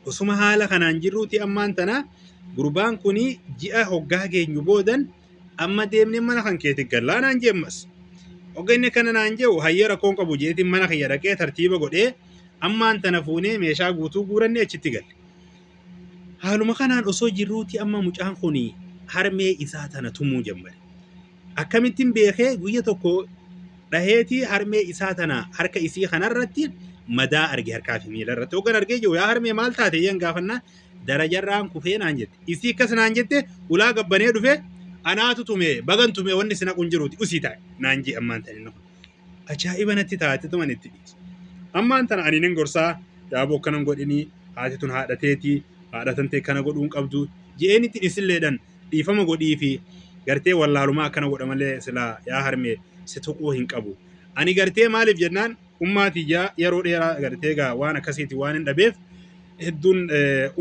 Osuma haala kanaan jirruuti ammaan tana gurbaan kun ji'a hoggaa geenyu boodan Amma deemnee mana kan keetti gallaa naan jee ammas. Oga inni kana naan jehu hayyee rakkoon qabu jeetiin mana kiyya dhaqee tartiiba godhee ammaan tana fuunee meeshaa guutuu guurannee achitti galle. Haaluma kanaan osoo jirruuti amma mucaan kun harmee isaa tana tumuu jammare. Akkamittiin beekee guyya tokko dhaheetii harmee isaa tana harka isii kanarratti madaa arge harkaa fi miila irratti. Hoggan argee jiru yaa harmee maal taate yeen gaafannaan darajarraan kufee naan jette. Isii akkas naan jette ulaa gabbanee dhufe anaatu tume bagan tume wanni sina kun jiruuti usii taa'e naan jee ammaan tana inni kun. Ajaa'iba natti taate tuman itti dhiise. Ammaan tana ani nin gorsaa yaaboo akkanan godhinii haati tun haadha teetii haadha tan ta'e kana godhuun qabdu je'een itti dhisilleedhan dhiifama godhii fi gartee wallaalumaa akkana godha malee silaa yaa harmee si tuquu hin qabu. Ani gartee maaliif jennaan ummaa tiyya yeroo dheeraa gartee gaa waan akkasiiti waan hin dhabeef hedduun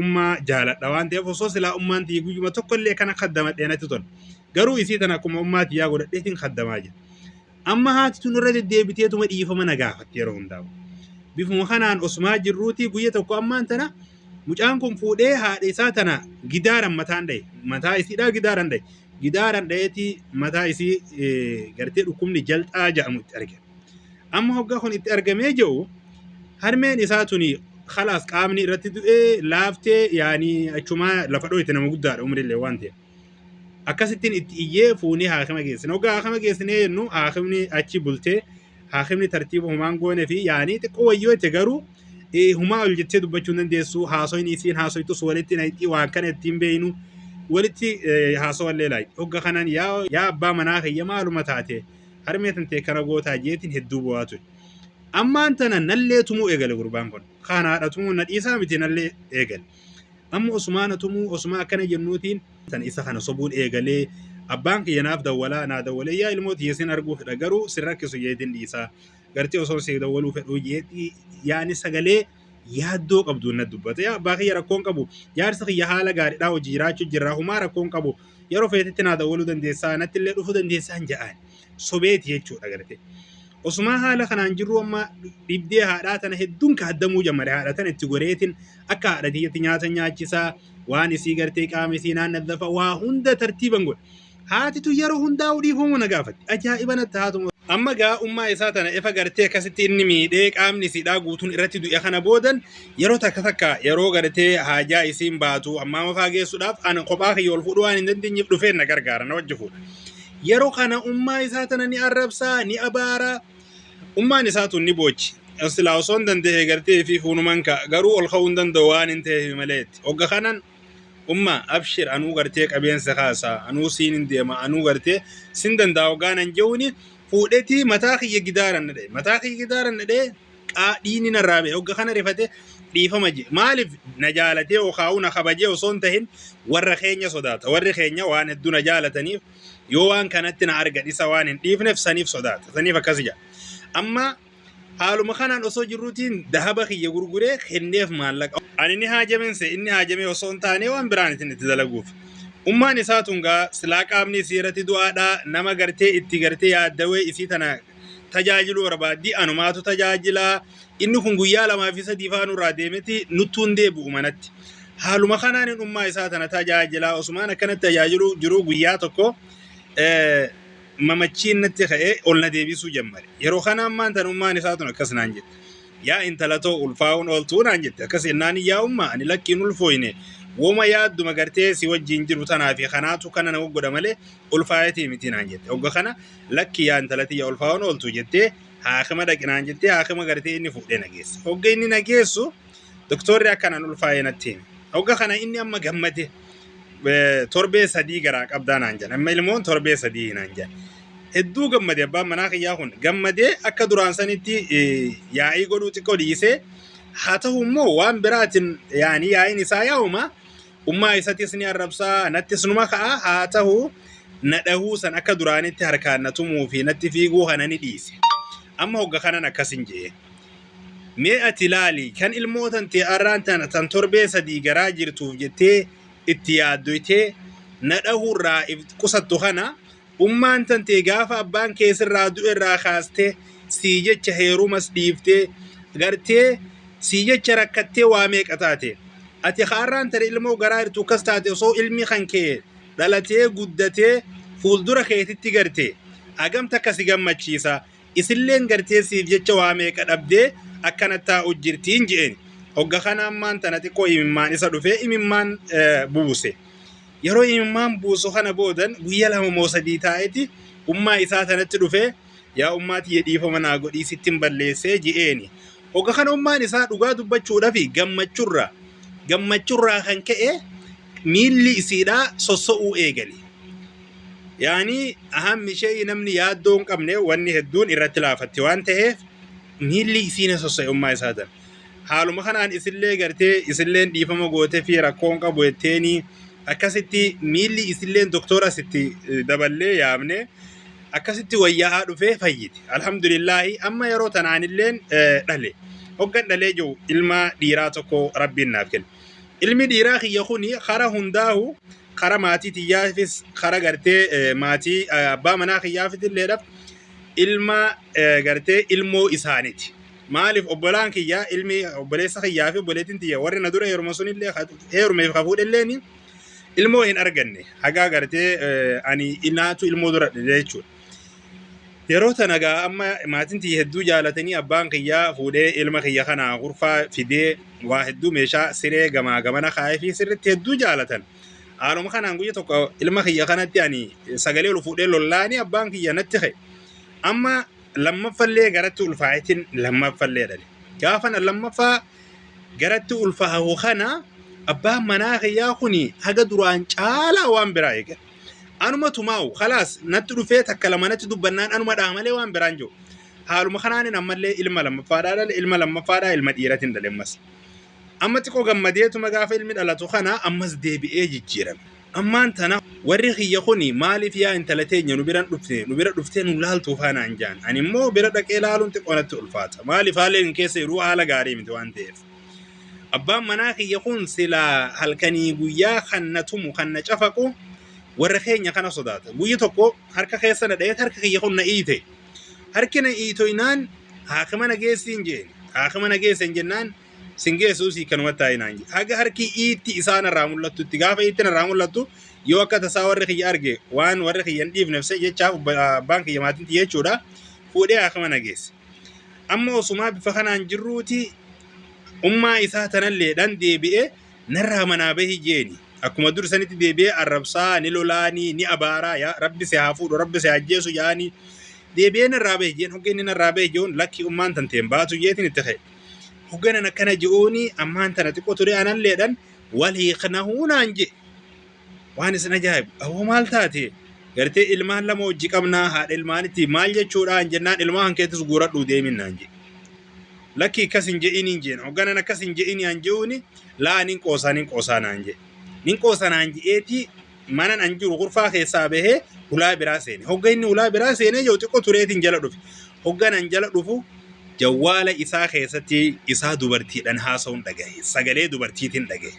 ummaa jaaladha waan ta'eef osoo silaa ummaan tiyya guyyuma tokko illee kana kaddamadhee natti tola. Garuu isii tana akkuma ummaa tiyyaa godhadheetiin kaddamaa jira. Amma haati tun irra deddeebiteetuma dhiifama na gaafatti yeroo hundaa'u. Bifuma kanaan osmaa jirruuti guyya tokko ammaan tana mucaan kun fuudhee haadha isaa tana gidaaran mataan dhaye. Mataa isiidhaa gidaaran dhaye. Gidaaran dhayeetii mataa isii gartee dhukkubni jalxaa jedhamu itti argina. Amma hoggaa kun itti argamee jiru harmeen isaa tuni khalaas qaamni irratti du'ee laaftee yaani achumaa lafa dhooyte nama guddaadha umrillee waan ta'e. Akkasittiin itti iyyee fuunee haakima geessine. Hoggaa haakima geessinee jennu haakimni achi bultee haakimni tartiiba humaan goone fi yaani xiqqoo wayyoo itti garuu eh, humaa ol jettee dubbachuu hin dandeessu haasoyni isiin haasoytus walitti naqxii waan kana ittiin beeynu walitti eh, haasawallee laayxi. Hogga kanaan yaa yaa abbaa manaa kiyya maaluma taate Harmee tantee kana gootaa jeetiin hedduu bo'aa ture. Ammaan tana nallee tumuu eegale gurbaan kun. Kaan haadha tumuu na dhiisaa miti nallee eegale. Amma osumaa na tumuu osumaa akkana jennuutiin tan isa kana sobuun eegalee abbaan kiyya naaf dawwalaa naa dawwalee yaa ilmoo tiyya sin arguu fedha garuu sin rakkisu jeetiin dhiisaa. Gartee osoon siif dawwaluu fedhuu jeetii yaani sagalee yaaddoo qabdu na dubbate yaa abbaa kiyya rakkoon qabu jaarsa kiyya haala gaariidhaa hojii jiraachuu jirra humaa rakkoon qabu yeroo feetetti naa dawwaluu dandeessaa natti illee dhufuu dandeessaa hin ja'aan sobeeti jechuudha galatee. Osumaa haala kanaan jirru amma dhibdee haadhaa tana hedduun kaaddamuu jammare haadha tana itti goreetiin akka haadha tiyyatti nyaata nyaachisaa waan isii gartee qaama isii naannaddafa waa hunda tartiiban godhe. Haati tun yeroo hundaa'u dhiifama na gaafatti. Ajaa'iba natti haa tumu. Amma gaa ummaa isaa tana efa gartee akkasitti inni miidhee qaamni isiidhaa guutuun irratti du'e kana boodan yeroo takka takka yeroo gartee haajaa isiin baatu ammaa mafaa geessuudhaaf ana kophaa kiyya ol fuudhuu waan hin dandeenyeef dhufeen na gargaara na wajji fuudha. Yeroo kana ummaa isaa tana ni arrabsaa ni abaara ummaan isaa tun ni boochi. Silaa osoo hin danda'e gartee fi fuunuman ka'a garuu ol ka'uu hin danda'u waan hin ta'eef maleetti. Hogga kanan umma abshir anuu gartee qabeensa kaasa anuu siin hin deema anuu gartee sin danda'a ogaa nan je'uuni fuudhetii mataa kiyya gidaaran nadhe mataa kiyya gidaaran nadhe qaa dhiini narraa ba'e ogga kana rifate dhiifama je maaliif na jaalatee okaa'u na kabajee osoo hin tahin warra keenya sodaata warri keenya waan hedduu na jaalataniif yoo waan kanatti na argan isa waan hin dhiifneef saniif sodaata saniif akkasi jedha amma Haaluma kanaan osoo jirruutiin dahaba kiyya gurguree kenneef maallaqa. Ani ni haajaminse inni haajamee osoo hin taanee waan biraan isin itti dalaguuf. Ummaan isaa tun gaa silaa qaamni isii irratti du'aadha nama gartee itti gartee yaaddawee isii tana tajaajiluu barbaaddi anumaatu tajaajila inni kun guyyaa lamaa fi sadii faa nurraa deemeti nuttuun deebi'u manatti. Haaluma kanaan hin ummaa isaa tana tajaajilaa osumaan akkanatti tajaajiluu jiruu guyyaa tokko eh, mamachiin natti ka'ee ol na deebisuu jammare. Yeroo kana ammaan tan ummaan isaa tun akkas naan jette. Yaa intala too ulfaa'uun ooltuu naan jette. Akkas jennaan yaa ummaa ani lakkiin ulfooyne woma yaadduma gartee si wajjiin jiru tanaa fi kanaatu kana na godha malee ulfaayatii miti naan jette. Ogga kana lakki yaa intala tiyya ulfaa'uun ooltuu jettee haakima dhaqi naan jettee haakima gartee inni fuudhee na geesse. Ogga inni na geessu Doktorri akka nan ulfaa'e natti hime. Hogga kana inni amma gammade eh, torbee sadii garaa qabdaa naan jedhan. Amma ilmoon torbee sadii naan jedhan. Hedduu gammade abbaan manaa kiyyaa kun. Gammadee akka duraan sanitti eh, yaa'ii godhuu xiqqoo dhiisee haa ta'u immoo waan biraatiin yaani yaa'iin isaa yaa'uma. Ummaa isatis ni arrabsaa nattis numa ka'a haa ta'u na dhahuu san akka duraanitti harkaan na tumuu fi natti fiiguu kana ni dhiise. Amma hogga kanan akkasin jee. Mee ati laali kan ilmoo tantee arraan tana tan torbee sadii garaa jirtuuf jettee itti yaaddoytee na dhahuurraa if qusattu kana ummaan tantee gaafa abbaan kee sirraa du'erraa kaastee sii jecha heerumas dhiiftee gartee sii jecha rakkattee waa meeqa taate ati ka arraan tana ilmoo garaa jirtu akkas taate osoo ilmi kan kee dhalatee guddatee fuuldura keetitti garte hagam takka si gammachiisa isilleen gartee siif jecha waa meeqa dhabdee akkana taa'u jirtiin je'een hogga kana ammaan tana xiqqoo imimmaan isa dhufee imimmaan buuse yeroo imimmaan buusu kana boodan guyya lama moo sadii taa'eti ummaa isaa tanatti dhufee yaa ummaa tiyya dhiifama naa godhii sittin balleessee je'eeni hogga kana ummaan isaa dhugaa dubbachuudhafi gammachurraa gammachurraa kan ka'e miilli isiidhaa sosso'uu eegale Yaanii ahammi ishee namni yaaddoo hin qabne wanni hedduun irratti laafatti waan ta'eef miilli isiina sossa'ummaa isaa tan. Haaluma kanaan isillee gartee isilleen dhiifama goote fi rakkoo hin qabu jetteeni akkasitti miilli isilleen doktoora sitti eh, daballee yaamne akkasitti wayyaa'aa dhufee fayyite. Alhamdulillaahi amma yeroo tanaanilleen eh, dhale. Hoggan dhalee jiru ilma dhiiraa tokko rabbiin naaf kenne. Ilmi dhiiraa kiyya kuni hara hundaahu kara maatii tiyyaafis kara gartee eh, maatii eh, abbaa manaa kiyyaafis illeedhaaf ilma eh, gartee ilmoo isaaniti. Maaliif obbolaan kiyya ilmi obboleessa kiyyaa fi obboleettiin tiyya warri na dura heeruma sunillee ka- heerumeef ka fuudhelleeni ilmoo hin arganne. Hagaa gartee eh, ani inaatu ilmoo dura dhale jechuudha. Yeroo tana gaa amma maatiin tiyya hedduu jaalatanii abbaan kiyya fuudhee ilma kiyya kana kurfaa fidee waa hedduu meeshaa siree gamaa gamana kaa'ee fi sirritti hedduu jaalatan. Haaluma kanaan guyya tokko ilma kiyya kanatti ani sagalee ol fuudhee lollaanii abbaan kiyya natti ka'e. Amma lammaffallee garatti ulfaa'itin lammaffallee dhale. Gaafa na lammaffaa garatti ulfaa'u kana abbaan manaa kiyyaa kun haga duraan caalaa waan biraa eegale. Anuma tumaa'u khalaas natti dhufee takka lama natti dubbannaan anuma dhaha malee waan biraan jiru. Haaluma kanaanin ammallee ilma lammaffaadhaa dhale ilma lammaffaadhaa ilma dhiiratin dhale ammas. Amma xiqqoo gammadeetuma gaafa ilmi dhalatu kana ammas deebi'ee jijjiirame. Ammaan tana warri kiyya kuni maaliif yaa intala teenya nu biran dhufte nu bira dhuftee nu laaltuu faanaan jaan. Ani immoo bira dhaqee laaluun xiqqoo natti ulfaata. Maaliif haalli inni keessa jiru haala gaarii miti waan ta'eef. Abbaan manaa kiyya kun silaa halkanii guyyaa kan na tumu kan na cafaqu warra keenya kana sodaata. Guyya tokko harka keessa na dha'eet harka kiyya kun na iite. Harki na iitoinaan haakima na geessiin jeen. Haakima na geesseen jennaan sin geessuu sii kanuma taa'inaan jee. Haga harki iitti isaan irraa mul'attu itti gaafa iitti irraa mul'attu yoo akka tasaa warri kiyya arge waan warri kiyya hin dhiifnef se jechaaf abbaan kiyya maatiin tiyya jechuudha fuudhee haakima na geesse. Amma osumaa bifa kanaan jirruuti ummaa isaa tanalleedhaan deebi'ee narraa manaa bahi jeeni. Akkuma dur sanitti deebi'ee arrabsaa ni lolaanii ni abaaraa yaa rabbi si haa fuudhu rabbi si haa ajjeesu jaanii deebi'ee narraa bahi jeen hogga inni narraa bahi je'uun lakki ummaan tanteen baatu jeetiin itti ka'e. Hogganan akkana je'uuni ammaan tana xiqqoo ture analleedhaan wal hiiknahuu naan je'e. Waan isin ajaa'ibu awwa maal taate gartee ilmaan lama hojji qabnaa haadha ilmaanitti maal jechuudhaan jennaan ilmaa kan keettis guuradhuu deemin naan jedhe. Lakki akkas hin je'iniin jeen hogganan akkas hin je'inii an je'uuni laa nin qoosaa nin qoosaa naan jedhe. Nin qoosa naan je'eetii manan an jiru kurfaa keessaa bahee hulaa biraa seene. Hogga inni hulaa biraa seenee jiru xiqqoo tureetiin jala dhufe. Hogganan jala dhufu jawwaala isaa keessatti isaa dubartiidhaan haasa'uun dhagahe. Sagalee dubartiitiin dhagahe.